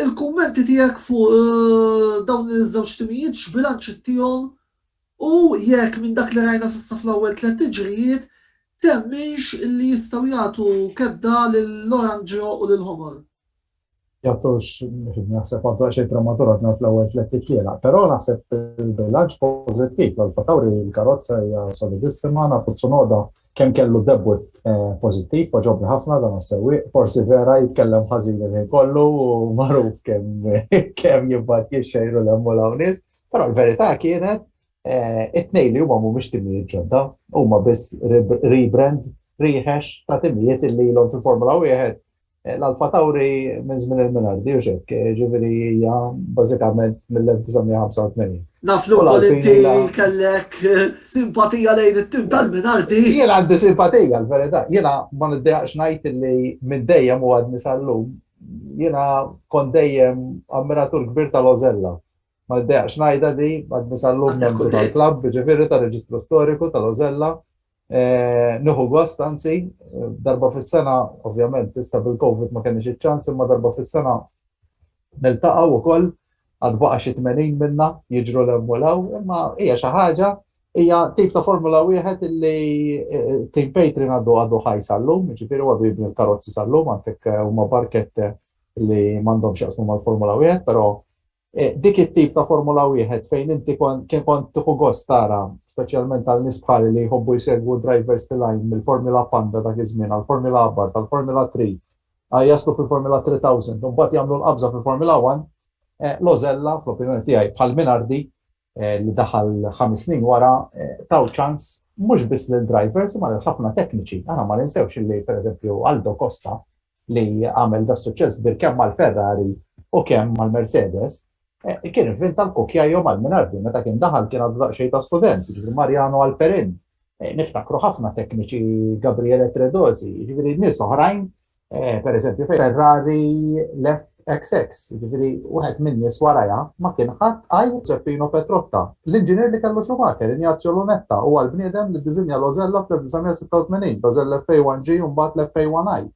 Il-kummenti tiegħek fuq dawn iż-żewġ timijiet x'bilanċ ittihom u jekk minn dak li rajna s'issa fl-ewwel tliet tiġrijiet temmnx illi jistgħu jagħtu kedda lill-Oranġjo u lill-Ħomor? Jattux, naħseb għaddu għaxej prematur għadna fl-ewwel fletti tlielaq, però naħseb il-bilanċ pożittiv l-fatawri l-karozza hija solidissima, nafu tsunoda kemm kellu debut eh, pożittiv, poġobni ħafna dan għas-sewwieq, forsi vera jitkellem ħażin il-ħin kollu u magħruf kemm kemm jibgħat jixxejru l-hemm l-hawnnis, però l-verità kienet eh, it-tnejn li huma mhumiex timijiet ġodda, huma biss rebrand riħex ta' timijiet li l-om fil-Formula 1 L-Alfa Tauri minn żmien il-Minardi u xekk, ġifieri hija bażikament mill-1985. Naf li wkoll inti kellek simpatija lejn it-tim tal-Minardi. Jien għandi simpatija l-verità. Jiena ma niddejaqx ngħid li minn dejjem u għadni sal-lum jiena kont dejjem ammiratur kbir tal-Ożella. Ma niddejaqx ngħidha di għadni sal-lum membru tal-klabb, ġifieri tar-reġistru storiku tal-Ożella. Nieħu gost anzi, darba fis-sena, ovvjament issa bil-Covid ma kenniex iċ-ċans, imma darba fis-sena niltaqgħu wkoll, għad baqa' xi tmenin minna jiġru 'l hemm u 'l hawn, imma hija xi ħaġa, hija tip ta' Formula Wieħed illi Team Patreon għadu għadu ħaj sal-lum, jiġifieri huwa għadu jibni l-karozzi sal-lum, għandek huma barkette li m'għandhomx x'jaqsmu mal-Formula Wieħed, però Dik it-tip ta' Formula Wieħed fejn inti kien kont tieħu gost tara, speċjalment għal nies bħali li jħobbu jsegwu d-drivers tilgħin mill-Formula Panda dak iż-żmien għall-Formula Abarth, għall-Formula Three, jaslu fil-Formula Three Thousand u mbagħad jagħmlu l-qabża fil-Formula One, Lozella, fl-opinjoni tiegħi, bħal Minardi, li daħal ħames snin wara, taw ċans mhux biss lill-drivers imma lil ħafna tekniċi. Aħna ma ninsewx li pereżempju Aldo Costa li għamel da suċċess bir kemm mal-Ferrari u kemm mal-Mercedes, eh, kien invent tal-kukja jew mal-Minardi meta kien daħal kien għadu daqsxejn ta' student, jiġifieri Mariano Alperin, eh, niftakru ħafna tekniċi Gabriele Tredosi, jiġifieri nies oħrajn Eh, per eżempju, Ferrari lef XX, ġifiri, uħed minn nis waraja, ma kien ħadd għaj Zeppino Petrotta, l-inġinier li kellu Schumacher, Ignazio Lunetta, u għal-bniedem li dizinja l-Ozella fl-1986, l-Ozella FA1G un bat l-FA1I.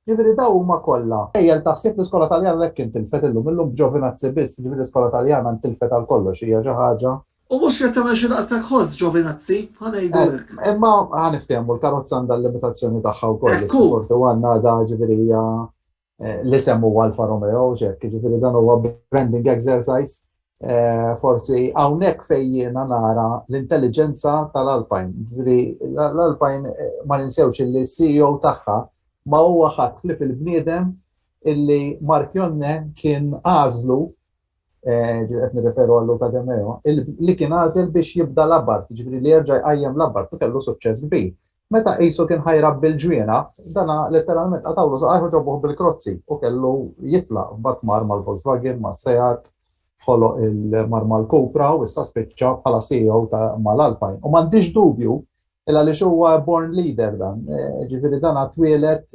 Ġifiri, daw huma kollha. Ejjel taħsib l-iskola taljana lekk intilfet illum, illum b'ġovinazzi biss, ġifiri l-iskola taljana ntilfet għal kollox, hija xi ħaġa U mhux qed tagħmel xi daqshekk ħoss, Giovinazzi, ħa ngħidulek. Eh, imma ħa niftehmu l-karozza għandha l-limitazzjoni tagħha wkoll. Ekku. Fortu għandna da ġifieri hija eh, l-isem huwa Alfa Romeo, ġek, ġifieri dan huwa branding exercise. Eh, forsi hawnhekk fejn jiena nara l-intelligenza tal-Alpine. Ġifieri l-Alpine ma ninsewx li s-CEO tagħha ma huwa ħadd li fil-bniedem illi Mark Jonne kien għażlu qed nirreferu għal Luca De Meo, li kien għażel biex jibda l-abart, jiġifieri li jerġa' jqajjem l-abart u kellu suċċess kbir. Meta qisu kien ħa jrabbi l-ġwienaq, dana letteralment qatgħulu saqajh u ġabuh bil-krozzi u kellu jitlaq. Mbagħad mar mal-Volkswagen, mas-Seat, ħoloq il-mar mal-Cupra u issa spiċċa bħala CEO mal-Alpine. U m'għandix dubju Il għaliex huwa born leader dan, ġifieri dan twieled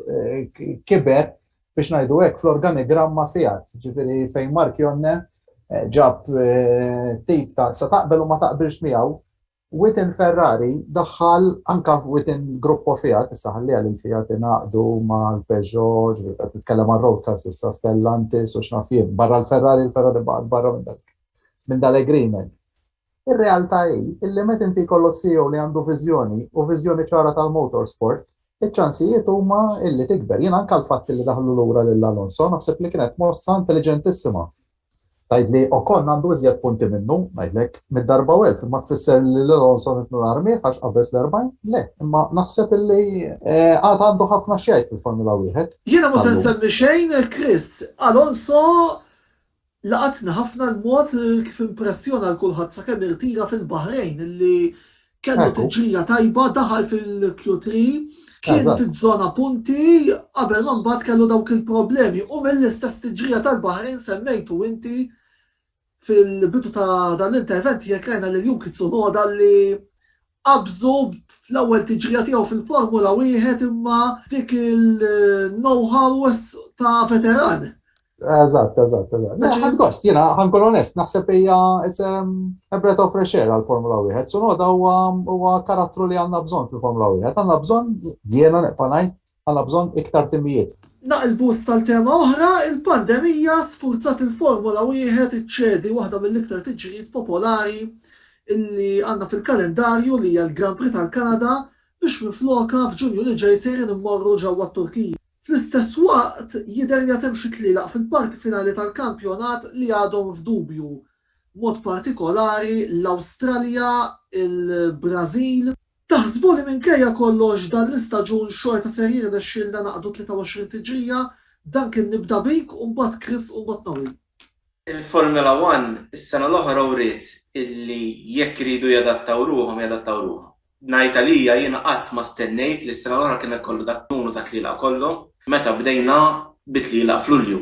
kiber biex ngħidu hekk fl-organigramma Fiat, ġifieri fejn Marchionne ġab tip ta' sa taqbel u ma taqbilx miegħu, within Ferrari daħħal anke within Gruppo Fiat, issa ħalliha lil Fiat ingħaqdu mal-Peugeot, ġifieri qed nitkellem għal road cars issa, Stellantis u x'naf jien, barra l-Ferrari, il-Ferrari baqgħet barra minn dal-agreement. Ir-realtà hi illi meta inti jkollok CEO li għandu viżjoni u viżjoni ċara tal-motorsport, iċ-ċansijiet huma illi tikber. Jien anke l-fatt illi daħlu lura lil Alonso naħseb li kienet mossa intelliġentissima. Tgħid li Ocon għandu iżjed punti minnu, ngħidlek, mitt darba u elf, imma tfisser li lil Alonso nifnu l-armiegħ għax qabeż l-erbgħin? Le, imma naħseb illi għad għandu ħafna x'jgħid fil-Formula Wieħed. Jiena mhux se nsemmi xejn, Chris, Alonso Laqatni ħafna l-mod kif impressjona lil kulħadd sakemm irtira fil-Baħrejn li kellu tiġrija tajba, daħal fil-Q3, kien fiż-żona punti qabel ma mbagħad kellu dawk il-problemi u mill-istess tiġrija tal-Baħrejn semmejtu inti fil-bidu ta' dan l-intervent tiegħek rajna lil Yuki Tsunoda li qabżu fl-ewwel tiġrija tiegħu fil-Formula Wieħed imma dik il-know-how ta' veteran Eżatt, eżatt, eżatt. Mela, ħad gost, jena, ħankun onest, naħseb hija it's um, a breath of fresh air għal-Formula 1. Sunoda huwa karattru li għandna bżonn fil-Formula 1. Għandna bżonn, jiena neqpa' ngħid, għandna bżonn iktar timijiet. Naqilbu tal-tema oħra, il-pandemija sfurzat il-Formula 1 iċċedi waħda mill-iktar tiġrijiet popolari illi għandna fil-kalendarju li hija l-Grand Prix tal-Kanada biex minfloka f'Ġunju li ġej sejrin immorru ġewwa t-Turkija. Fl-istess waqt, jidher li għad hemm xi tlielaq fil-parti finali tal-kampjonat li għadhom f'dubju, b'mod partikolari l-Awstralja, il-Brażil. Taħsbu li minkejja kollox dan l-istaġun xorta ser jirnexxielna naqdu 23 tiġrija? Dan kien Nibda Bik u mbagħad Chris u mbagħad Noel. Il-Formula One is-sena l-oħra wriet illi jekk iridu jadattaw ruħhom jadattaw ruħhom. Ngħid għalija jiena qatt ma stennejt li s-sena l-oħra kien ikollu dak n-numru ta' tlielaq kollu. Meta bdejna bi tlielaq f'Lulju.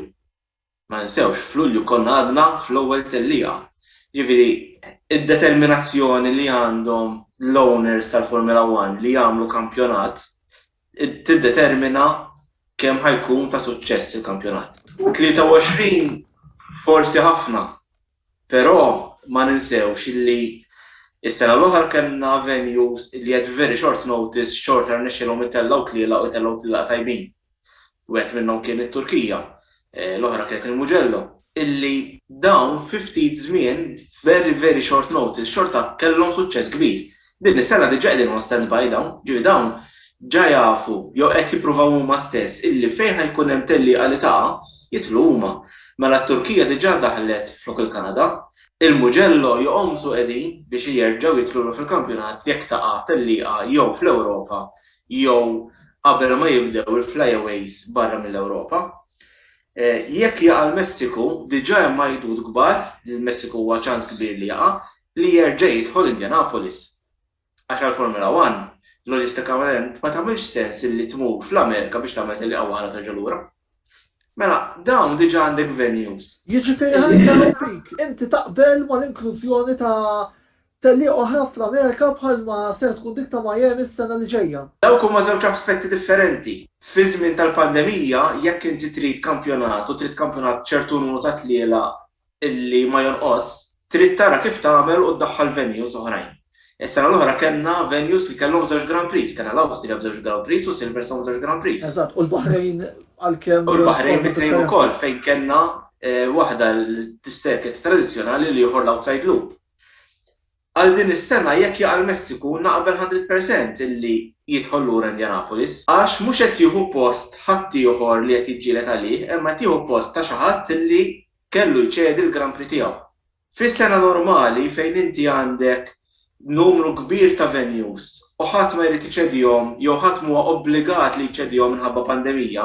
Ma ninsewx, f'Lulju konna għadna fl-ewwel tellieqa. Jiġifieri, id-determinazzjoni li għandhom l-owners tal-Formula One li jagħmlu kampjonat tiddetermina kemm ħa jkun ta' suċċess il-kampjonat. 23 forsi ħafna, Però ma ninsewx li s-sena l-oħra kellna venues li at very short notice xorta rnexxielhom itellgħu tlielaq u jtellgħu tlielaq tajbin. Wieħed minnhom kien it-Turkija, l-oħra kienet il-Mugello, illi dawn fi ftit żmien, very very short notice, xorta kellhom suċċess kbir. Din is-sena diġà qegħdin on standby dawn, ġifieri dawn ġa jafu jew qed jippruvaw huma stess illi fejn ħa jkun hemm tellieqa li taqa' jidħlu huma. Mela t-Turkija diġà daħlet flok il-Kanada. Il-Mugello joqomsu qegħdin biex jerġgħu jidħlu lura fil-kampjonat jekk taqa' tellieqa jew fl-Ewropa jew qabel ma jibdew il-fly-aways barra mill-Ewropa. Jekk jaqa' l-Messiku, diġà hemm għajdut kbar li l-Messiku huwa ċans kbir li jaqa', li jerġa' jidħol Indianapolis. Għax għall-Formula One, loġistikament ma tagħmilx sens illi tmur fl-Amerika biex tagħmel tellieqa waħda u terġa' lura. Mela, dawn diġà għandek venues. Jiġifieri ħa ninterrompik, inti taqbel mal-inklużjoni ta' tellieqa oħra fl-Amerika bħalma ser tkun dik ta' Miami s-sena li ġejja? Dawk huma żewġ aspetti differenti. Fi żmien tal-pandemija, jekk inti trid kampjonat u trid kampjonat b'ċertu numru ta' tlielaq li ma jonqos, trid tara kif tagħmel u ddaħħal venues oħrajn. Is-sena l-oħra kellna venues li kellhom żewġ Grand Prix, kellna l-Awstrija b'żewġ Grand Prix u Silverstone b'żewġ Grand Prix. Eżatt, u l-Baħrejn għalkemm. U l-Baħrejn bi tnejn ukoll fejn kellna waħda l-circuit tradizzjonali u l-ieħor l-outside loop. Għal din is-sena jekk jaqa' l-Messiku naqbel hundred percent illi jidħol lura Indianapolis għax mhux qed jieħu post ħaddieħor li qed jiġġieled għalih imma qed jieħu post ta' xi ħadd illi kellu jċedi l-Grand Prix tiegħu. Fi sena normali fejn inti għandek numru kbir ta' venues u ħadd ma jrid iċedihom jew ħadd m'huwa obbligat li jċedihom minħabba pandemija,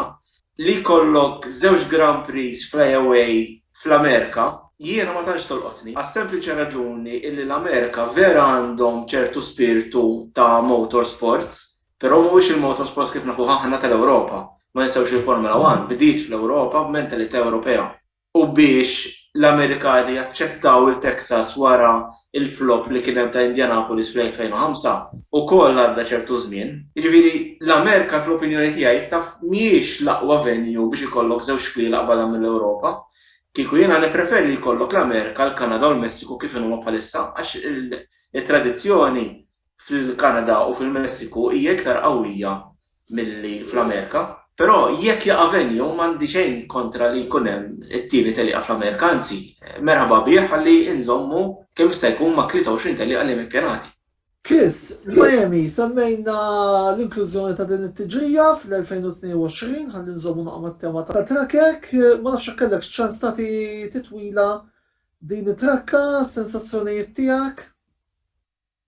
Li jkollok żewġ Grand Prix fly-away fl-Amerika, jiena ma tantx tolqotni, għas-sempliċi raġuni illi l-Amerika vera għandhom ċertu spirtu ta' motorsports, però mhuwiex il-motorsports kif nafuh aħna tal-Ewropa. Ma ninsewx li l-Formula One bdiet fl-Ewropa b'mentalità Ewropea. u biex l-Amerikani jaċċettaw il-Texas wara l-flop li kien hemm ta' Indianapolis fl-2005, ukoll għadda ċertu żmien. Jiġifieri, l-Amerika fl-opinjoni tiegħi taf mhijiex l-aqwa venue biex ikollok żewġ xkiela qbadha mill-Ewropa. Kieku jiena nippreferi li jkollok l-Amerika, l-Kanada u l-Messiku kif inhuma bħalissa għax it-tradizzjoni fil-Kanada u fil-Messiku hija iktar qawwija milli fl-Amerika. Però jekk jaqa' venue m'għandi xejn kontra li jkun hemm it-tieni tellieqa fl-Amerika, anzi, merħba bih ħalli nżommu kemm jista' jkun ma' 23 tellieqa li hemm ippjanati. Chris, Miami, semmejna l-inklużjoni ta' din it-tiġrija fl-2022 ħalli nżommu naqa' mat-tema ta' Trakek. Ma nafx jekk kellekx ċans tagħti titwila din it-trakka, sensazzjonijiet tiegħek?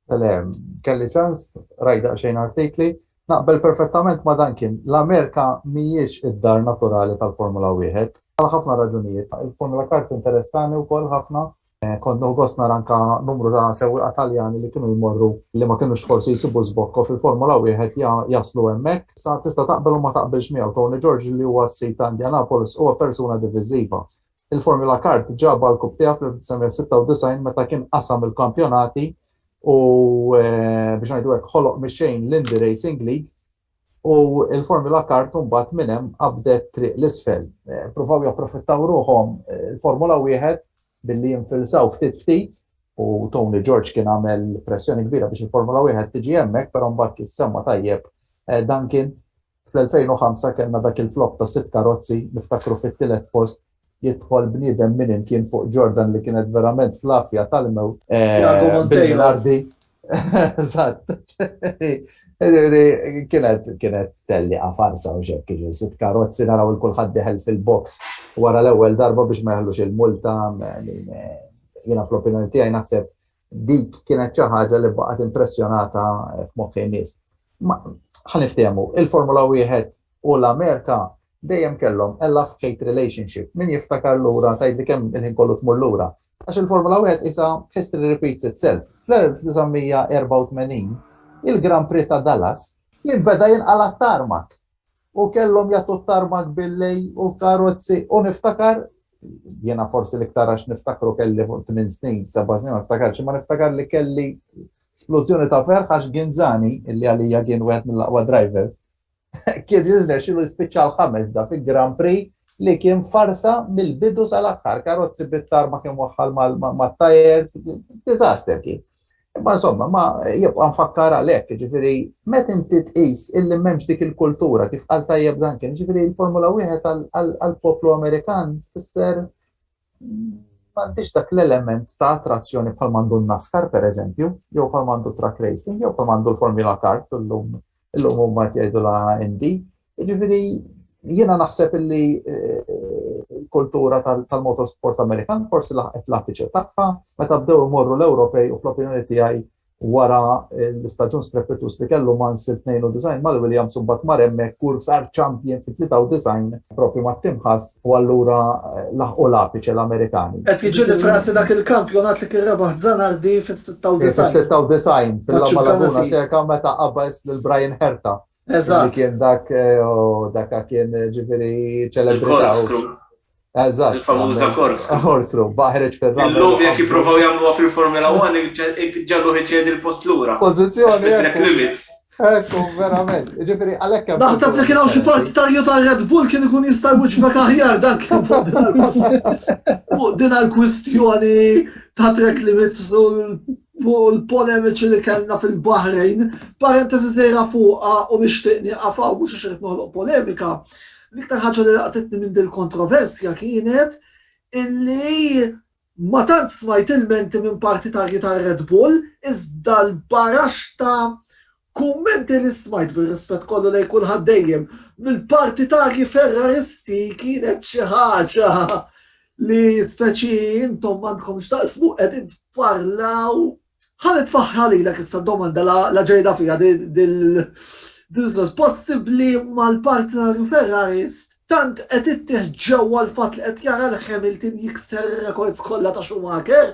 Le, kelli ċans, rajt daqsxejn artikli, naqbel perfettament ma' dan kien. L-Amerika mhijiex id-dar naturali tal-Formula Wieħed għal ħafna raġunijiet. Il-Formula Kart interessani wkoll ħafna. Kont nieħu gost nara anke numru ta' sewwieqa Taljani li kienu jmorru li ma kinux forsi jsibu żbokko fil-Formula Wieħed jaslu hemmhekk. Sa tista' taqbel u ma taqbilx miegħu, Tony George li huwa s-sid ta' Indianapolis huwa persuna diviżiva. Il-Formula Kart ġab għall-Cup tiegħu fl-1996 meta kien qasam il-kampjonati u biex ngħidu hekk ħoloq mix-xejn l-Indy Racing League u l-Formula Kart imbagħad minn hemm qabdet triq l-isfel. Pruvaw japprofittaw ruħhom il-Formula Wieħed billi jinfilsaw ftit ftit u Tony George kien għamel pressjoni kbira biex il-Formula Wieħed tiġi hemmhekk, però mbagħad kif semma tajjeb Duncan, Fl-2005 kellna dak il-flop ta' sitt karozzi, niftakru fit-tielet post jidħol bniedem min imkien fuq Jordan li kienet verament fl-għafja tal-mewt. Tiago Monteiro. Kienet tellieqa farsa mhux hekk, jiġifieri sitt karozzi naraw lil kulħadd deħel fil-box wara l-ewwel darba biex ma jeħlux il-multa, jiena fl-opinjoni tiegħi naħseb Dik kienet xi ħaġa li baqgħet impressjonata f'moħħi n-nies. Ħa niftehmu, il-Formula Wieħed u l-Amerika dejjem kellhom a love-hate relationship. Min jiftakar lura tgħidli kemm il-ħin kollu tmur lura. Għax il-Formula Wieħed qisha history repeats itself. Fl-1984, il-Grand Prix ta' Dallas kien beda jinqala' t-tarmak. U kellhom jagħtu t-tarmak bil-lejl u l-karozzi u niftakar, jiena forsi l-iktar għax niftakru kelli fuq tmien snin, seba' snin ma niftakarx, imma niftakar li kelli splużjoni ta' ferħ għax Ginzani, illi għalija kien wieħed mill-aqwa drivers, kien jirnexxilu jispiċċa l-ħames da fi Grand Prix li kien farsa mill-bidu sal-aħħar, karozzi bit-tarmak imwaħħal mat-tajers, disaster kien. Imma insomma, ma jibqa' nfakkar għalhekk, jiġifieri meta inti tqis illi m'hemmx dik il-kultura kif qal tajjeb dan kien, jiġifieri l-Formula Wieħed għall-poplu Amerikan tfisser m'għandix dak l-element ta' attrazzjoni bħal mandu n-NASCAR pereżempju, jew bħal mandu truck racing, jew bħal mandu l-Formula Kart illum illum huma qed jgħidu la Indy. Jiġifieri jiena naħseb illi l-kultura tal-motorsport Amerikan forsi laħqet l-apiċe tagħha meta bdew imorru l-Ewropej u fl-opinjoni tiegħi wara l-istaġun strepituż li kellu Mansell 92 mal-Williams u mbagħad mar hemmhekk u sar champion fit-93 proprju mat-Tim Haas u allura laħqu l-apiċe l-Amerikani. Qed jiġi rifrasi dak il-kampjonat li kien rebaħ Zanardi fis-96. Fis-96 fil-La Maladona Seca meta qabeż lil Brian Herta. Eżatt. Kien dak eh, u dak kien eh, ġifieri ċelebrita. Eżatt. Il-famuża korkslu. Korkslu, baħreġ fil-ramu. Illum jekk jippruvaw jagħmluha fil-Formula 1 ġallu ħiċed il-post lura. Pożizzjoni. Track limits. Ekku, verament. Ġifiri, għalek. Naħseb li kien hawn xi partitarju ta' Red Bull kien ikun jista' jwiġbek aħjar dak kien fuq din għal-kwistjoni ta' trek li mitzu fuq il-polemiċi li kellna fil-Baħrejn, parentesi żgħira fuqha u nixtieq nieqaf hawn mhux għax irid noħloq polemika, l-iktar ħaġa li laqtitni minn dil-kontroversja kienet illi ma tant smajt ilmenti minn partitarji tar-Red Bull iżda l-baraxta Kummenti li smajt bir-rispett kollu lejn kulħadd dejjem mill-partitarji Ferraristi kienet xi ħaġa li speċi intom m'għandkom x'taqsmu qegħdin tparlaw Ħa nitfaħħra lilek issa d-domanda la ġejda fiha dil-sens possibbli imma l-partitarju Ferrarist tant qed ittih ġewwa l-fatt li qed jara lil Hamilton jikser ir-rekords kollha ta' Schumacher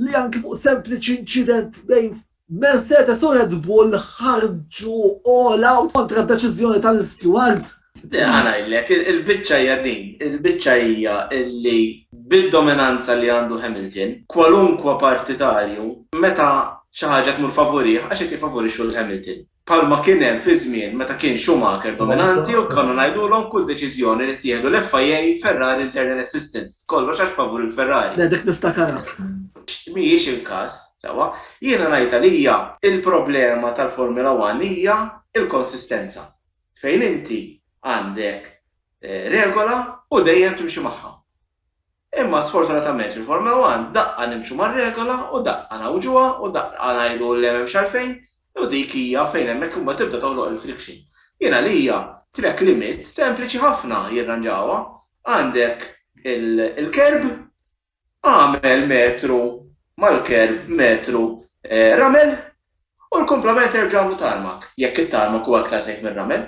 li anki fuq sempliċi inċident bejn Mercedes u Red Bull ħarġu all out kontra d-deċiżjoni tal-istewards. Ħa ngħidlek, il-biċċa hija din, il-biċċa hija li bid-dominanza li għandu Hamilton, kwalunkwe partitarju meta xi ħaġa tmur favurih għax qed jiffavorixxu lil Hamilton. bħalma kien hemm fi żmien meta kien Schumacher dominanti u konna ngħidulhom kull deċiżjoni li ttieħdu l-FIA Ferrari internal assistance, kollox għax favur il-Ferrari. Le, dik niftakarha. Mhijiex il-każ, sewwa. Jiena ngħidha li hija l-problema tal-Formula One hija l-konsistenza, fejn inti għandek regola u dejjem timxi magħha. Imma sfortunatament fil-Formula One daqqa nimxu mar-regola u daqqa ngħawġuha u daqqa ngħidu le m'hemmx għalfejn u dik hija fejn hemmhekk imbagħad tibda toħloq il-friction. Jien għalija track limits sempliċi ħafna jirranġawha. Għandek il-kerb, agħmel metru mal-kerb metru ramel u l-kumplament erġa' agħmlu tarmac, jekk it-tarmac huwa iktar safe mir-ramel.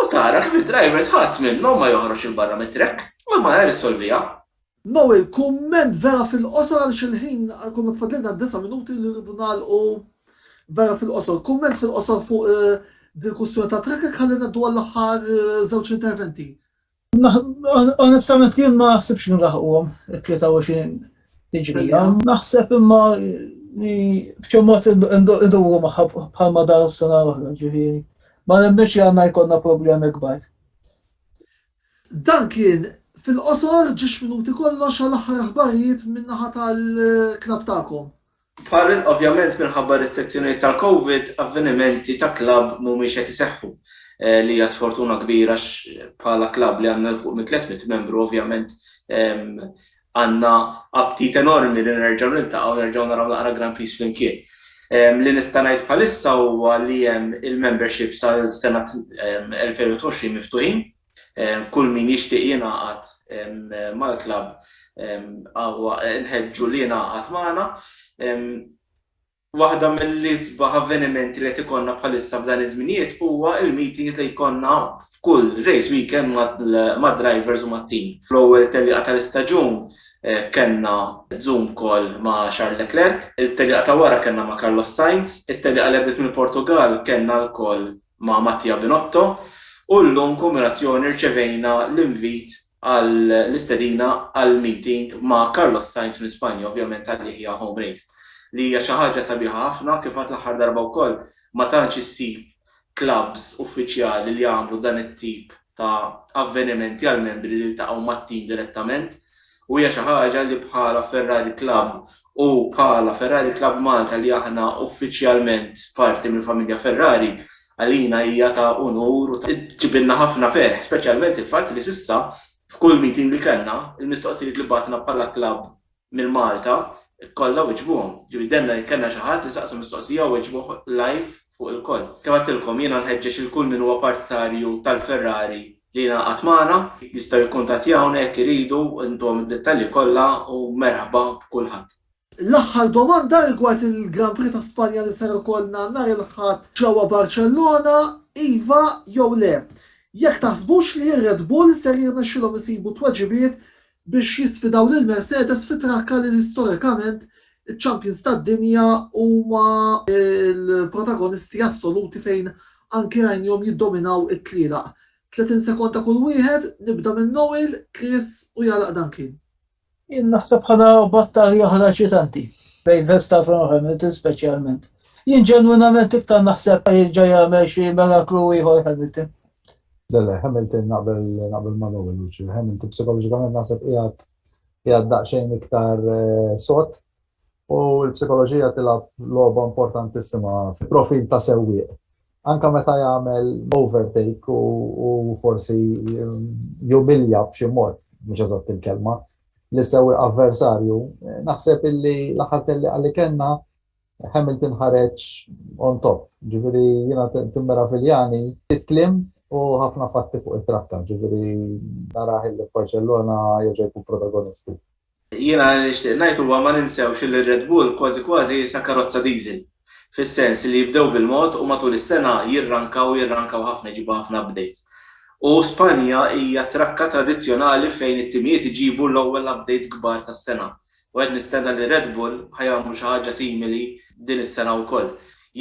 U tara kif id-drivers ħadd minnhom ma joħroġ 'il barra mit-trekk, u l-malajr issolviha. Noe, kumment vera fil-qosor għaliex il-ħin għall-kumment fadlilna disa' minuti li rridu nagħlqu vera fil-qosor. Kumment fil-qosor fuq din il-kwistjoni tat-trekking ħalli ngħaddu għall-aħħar żewġ interventi. Onestament kien ma naħsibx nlaħquhom it-23 tiġrija. Naħseb imma li b'xi mod iduru magħha bħalma dar s-sena l-oħra ġifieri. Ma nemminx li għandna jkollna problemi kbar. Dan kien fil-qosor ġiex minuti kollox għal aħħar aħbarijiet min-naħa tal-klabb tagħkom. Bħal, ovvjament minħabba r-restrizzjonijiet tal-Covid, avvenimenti ta' klabb mhumiex qed iseħħu, li hija sfortuna kbira għax bħala klabb li għandna 'l fuq minn 300 membru ovvjament għandna aptit enormi li nerġgħu niltaqgħu u nerġgħu naraw naqra Grand Prix flimkien. Li nista' ngħid bħalissa huwa li hemm il-memberships għal sena 2020 miftuħin Kull min jixtieq jingħaqad mal-klabb huwa nħeġġu li jingħaqad magħna. Waħda mill-isbaħ avvenimenti li qed ikollna bħalissa f'dan iż-żminijiet huwa l-meetings li jkollna f'kull race weekend mad-drivers u mat-team. Fl-ewwel tellieqa tal-istaġun kellna Zoom call ma' Charles Leclerc, it-tellieqa ta' wara kellna ma' Carlos Sainz, it-tellieqa li għaddiet mill-Portugall kellna lkoll ma' Mattia Binotto u llum b'kummerazzjoni rċevejna l-invit għal l-istedina għal meeting ma' Carlos Sainz minn Spanja ovvjament għal Yehia Home Race li hija xi ħaġa sabiħa ħafna kif għadt l-aħħar darba wkoll ma tantx issib clubs uffiċjali li jagħmlu dan it-tip ta' avvenimenti għall-membri li jiltaqgħu mat-team direttament U hija xi ħaġa li bħala Ferrari Club u bħala Ferrari Club Malta li aħna uffiċjalment parti mill-familja Ferrari, għalina hija ta' unur u tġibilna ħafna ferħ, speċjalment il-fatt li s'issa f'kull meeting li kellna, il-mistoqsijiet li bagħatna bħala club minn Malta kollha weġbuhom. Ġifieri demmna jekk kellna xi ħadd li saqsa mistoqsija u weġbuh live fuq ilkoll. Kif għedtilkom, jiena nħeġġeġ lil kull min huwa partitarju tal-Ferrari li jingħaqad magħna, jistgħu jikkuntattjawna jekk iridu intuhom id-dettalji kollha u merħba b'kulħadd. L-aħħar domanda rigward il-Grand Prix ta' Spanja li ser ikollna nhar il-Ħadd ġewwa Barċellona, iva jew le? Jekk taħsbux li r-Red Bull ser jirnexxilhom isibu tweġibiet biex jisfidaw lil Mercedes fi trakka li storikament iċ-champions tad-dinja huma l-protagonisti assoluti fejn anki rajnihom jiddominaw it-tlielaq. 30 sekonda kull wieħed, nibda minn Noel, Chris u jagħlaq Duncan. Jien naħseb ħana battalja oħra ċitanti bejn Verstappen u Hamilton speċjalment. Jien ġenwinament iktar naħseb jerġa' jagħmel xi miraklu ieħor Hamilton. Le, le, Hamilton naqbel naqbel ma' Noel u xi Hamilton psikoloġikament naħseb qiegħed qiegħed daqsxejn iktar eh, sod u l-psikoloġija tilgħab logħba importantissima fil-profil ta' sewwieq. Anka meta jagħmel overtake u forsi eh, jumilja b'xi mod, mhux eżatt il-kelma, li sewwieq avversarju, eh, naħseb illi l-aħħar telli għalli kellna Hamilton ħareġ on top, ġifieri jiena timmera Filjani, ftit kliem u ħafna fatti fuq it-trakka, ġifieri narah illi f'Barċellona jerġa' jkun protagonistu. Jiena li nixtieq ngħid huwa ma ninsewx illi r-Red Bull kważi kważi sa karozza diesel, fis-sens li jibdew bil-mod u matul is-sena jirrankaw u jirrankaw ħafna jġibu ħafna updates. U Spanja hija trakka tradizzjonali fejn it-timijiet iġibu l-ewwel updates kbar tas-sena. u qed nistenna li Red Bull ħa jagħmlu xi ħaġa simili din is-sena wkoll.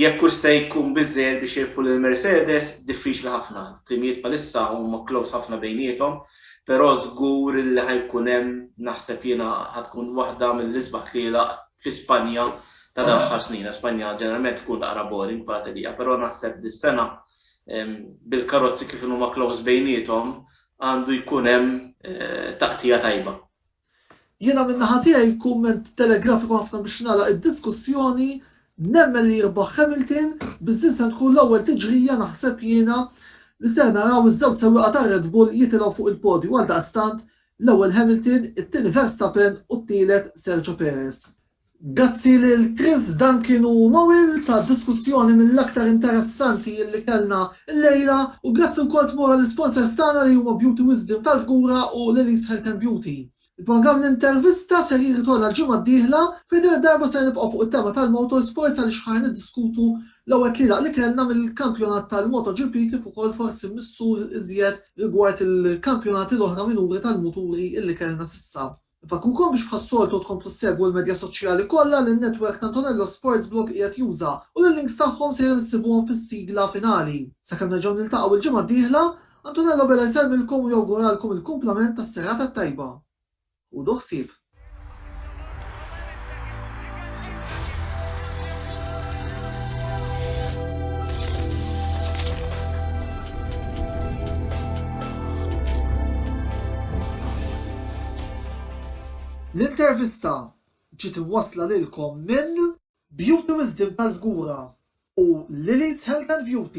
Jekk hux se jkun biżżejjed biex jirbħu lil Mercedes, diffiċli ħafna. It-timijiet bħalissa huma close ħafna bejniethom, però żgur li ħa jkun hemm, naħseb jiena ħa tkun waħda mill-isbaħ tlielaq fi Spanja ta' dal-aħħar snin. Spanja ġeneralment tkun naqra boring bħala tellieqa, però naħseb dis-sena bil-karozzi kif inhuma close bejniethom għandu jkun hemm taqtigħa tajba. Jiena min-naħa tiegħi kumment telegrafiku ħafna biex nagħlaq id-diskussjoni, nemmen li jirbaħ Hamilton, biss din se tkun l-ewwel tiġrija naħseb jiena li ser naraw iż-żewġ sewwieqa tar-Red Bull jitilgħu fuq il-podju, għaldaqstant l-ewwel Hamilton, it-tieni Verstappen u t-tielet Sergio Perez. Grazzi lil Chris Duncan u Noel tad-diskussjoni mill-aktar interessanti li kellna llejla u grazzi wkoll tmur għall-isponsors tagħna li huma Beauty Wisdom tal-Fgura u Lily's Health and Beauty. Il-programm L-Intervista ser jirritorna l-ġimgħa d-dieħla fejn din id-darba ser nibqgħu fuq it-tema tal-motorsports għaliex ħa niddiskutu l-ewwel tlielaq li kellna mill-kampjonat tal-MotoGP kif ukoll forsi missur iżjed rigward il-kampjonati l-oħra minuri tal-muturi illi kellna s'issa. Infakrukom biex bħas-soltu tkomplu ssegwu l-medja soċjali kollha li n-netwerk ta' Antonello Sports Blog qiegħed juża u li l-links tagħhom sejrin issibuhom fis-sigla finali. Sakemm nerġgħu niltaqgħu l-ġimgħa d-dieħla, Antonello Bela jsellmilkom u jawguralkom il-kumplament tas-serata t-tajba. Ħudu ħsieb. L-intervista ġiet imwassla lilkom minn Beauty Wisdom tal-Fgura u Lily's Health and Beauty.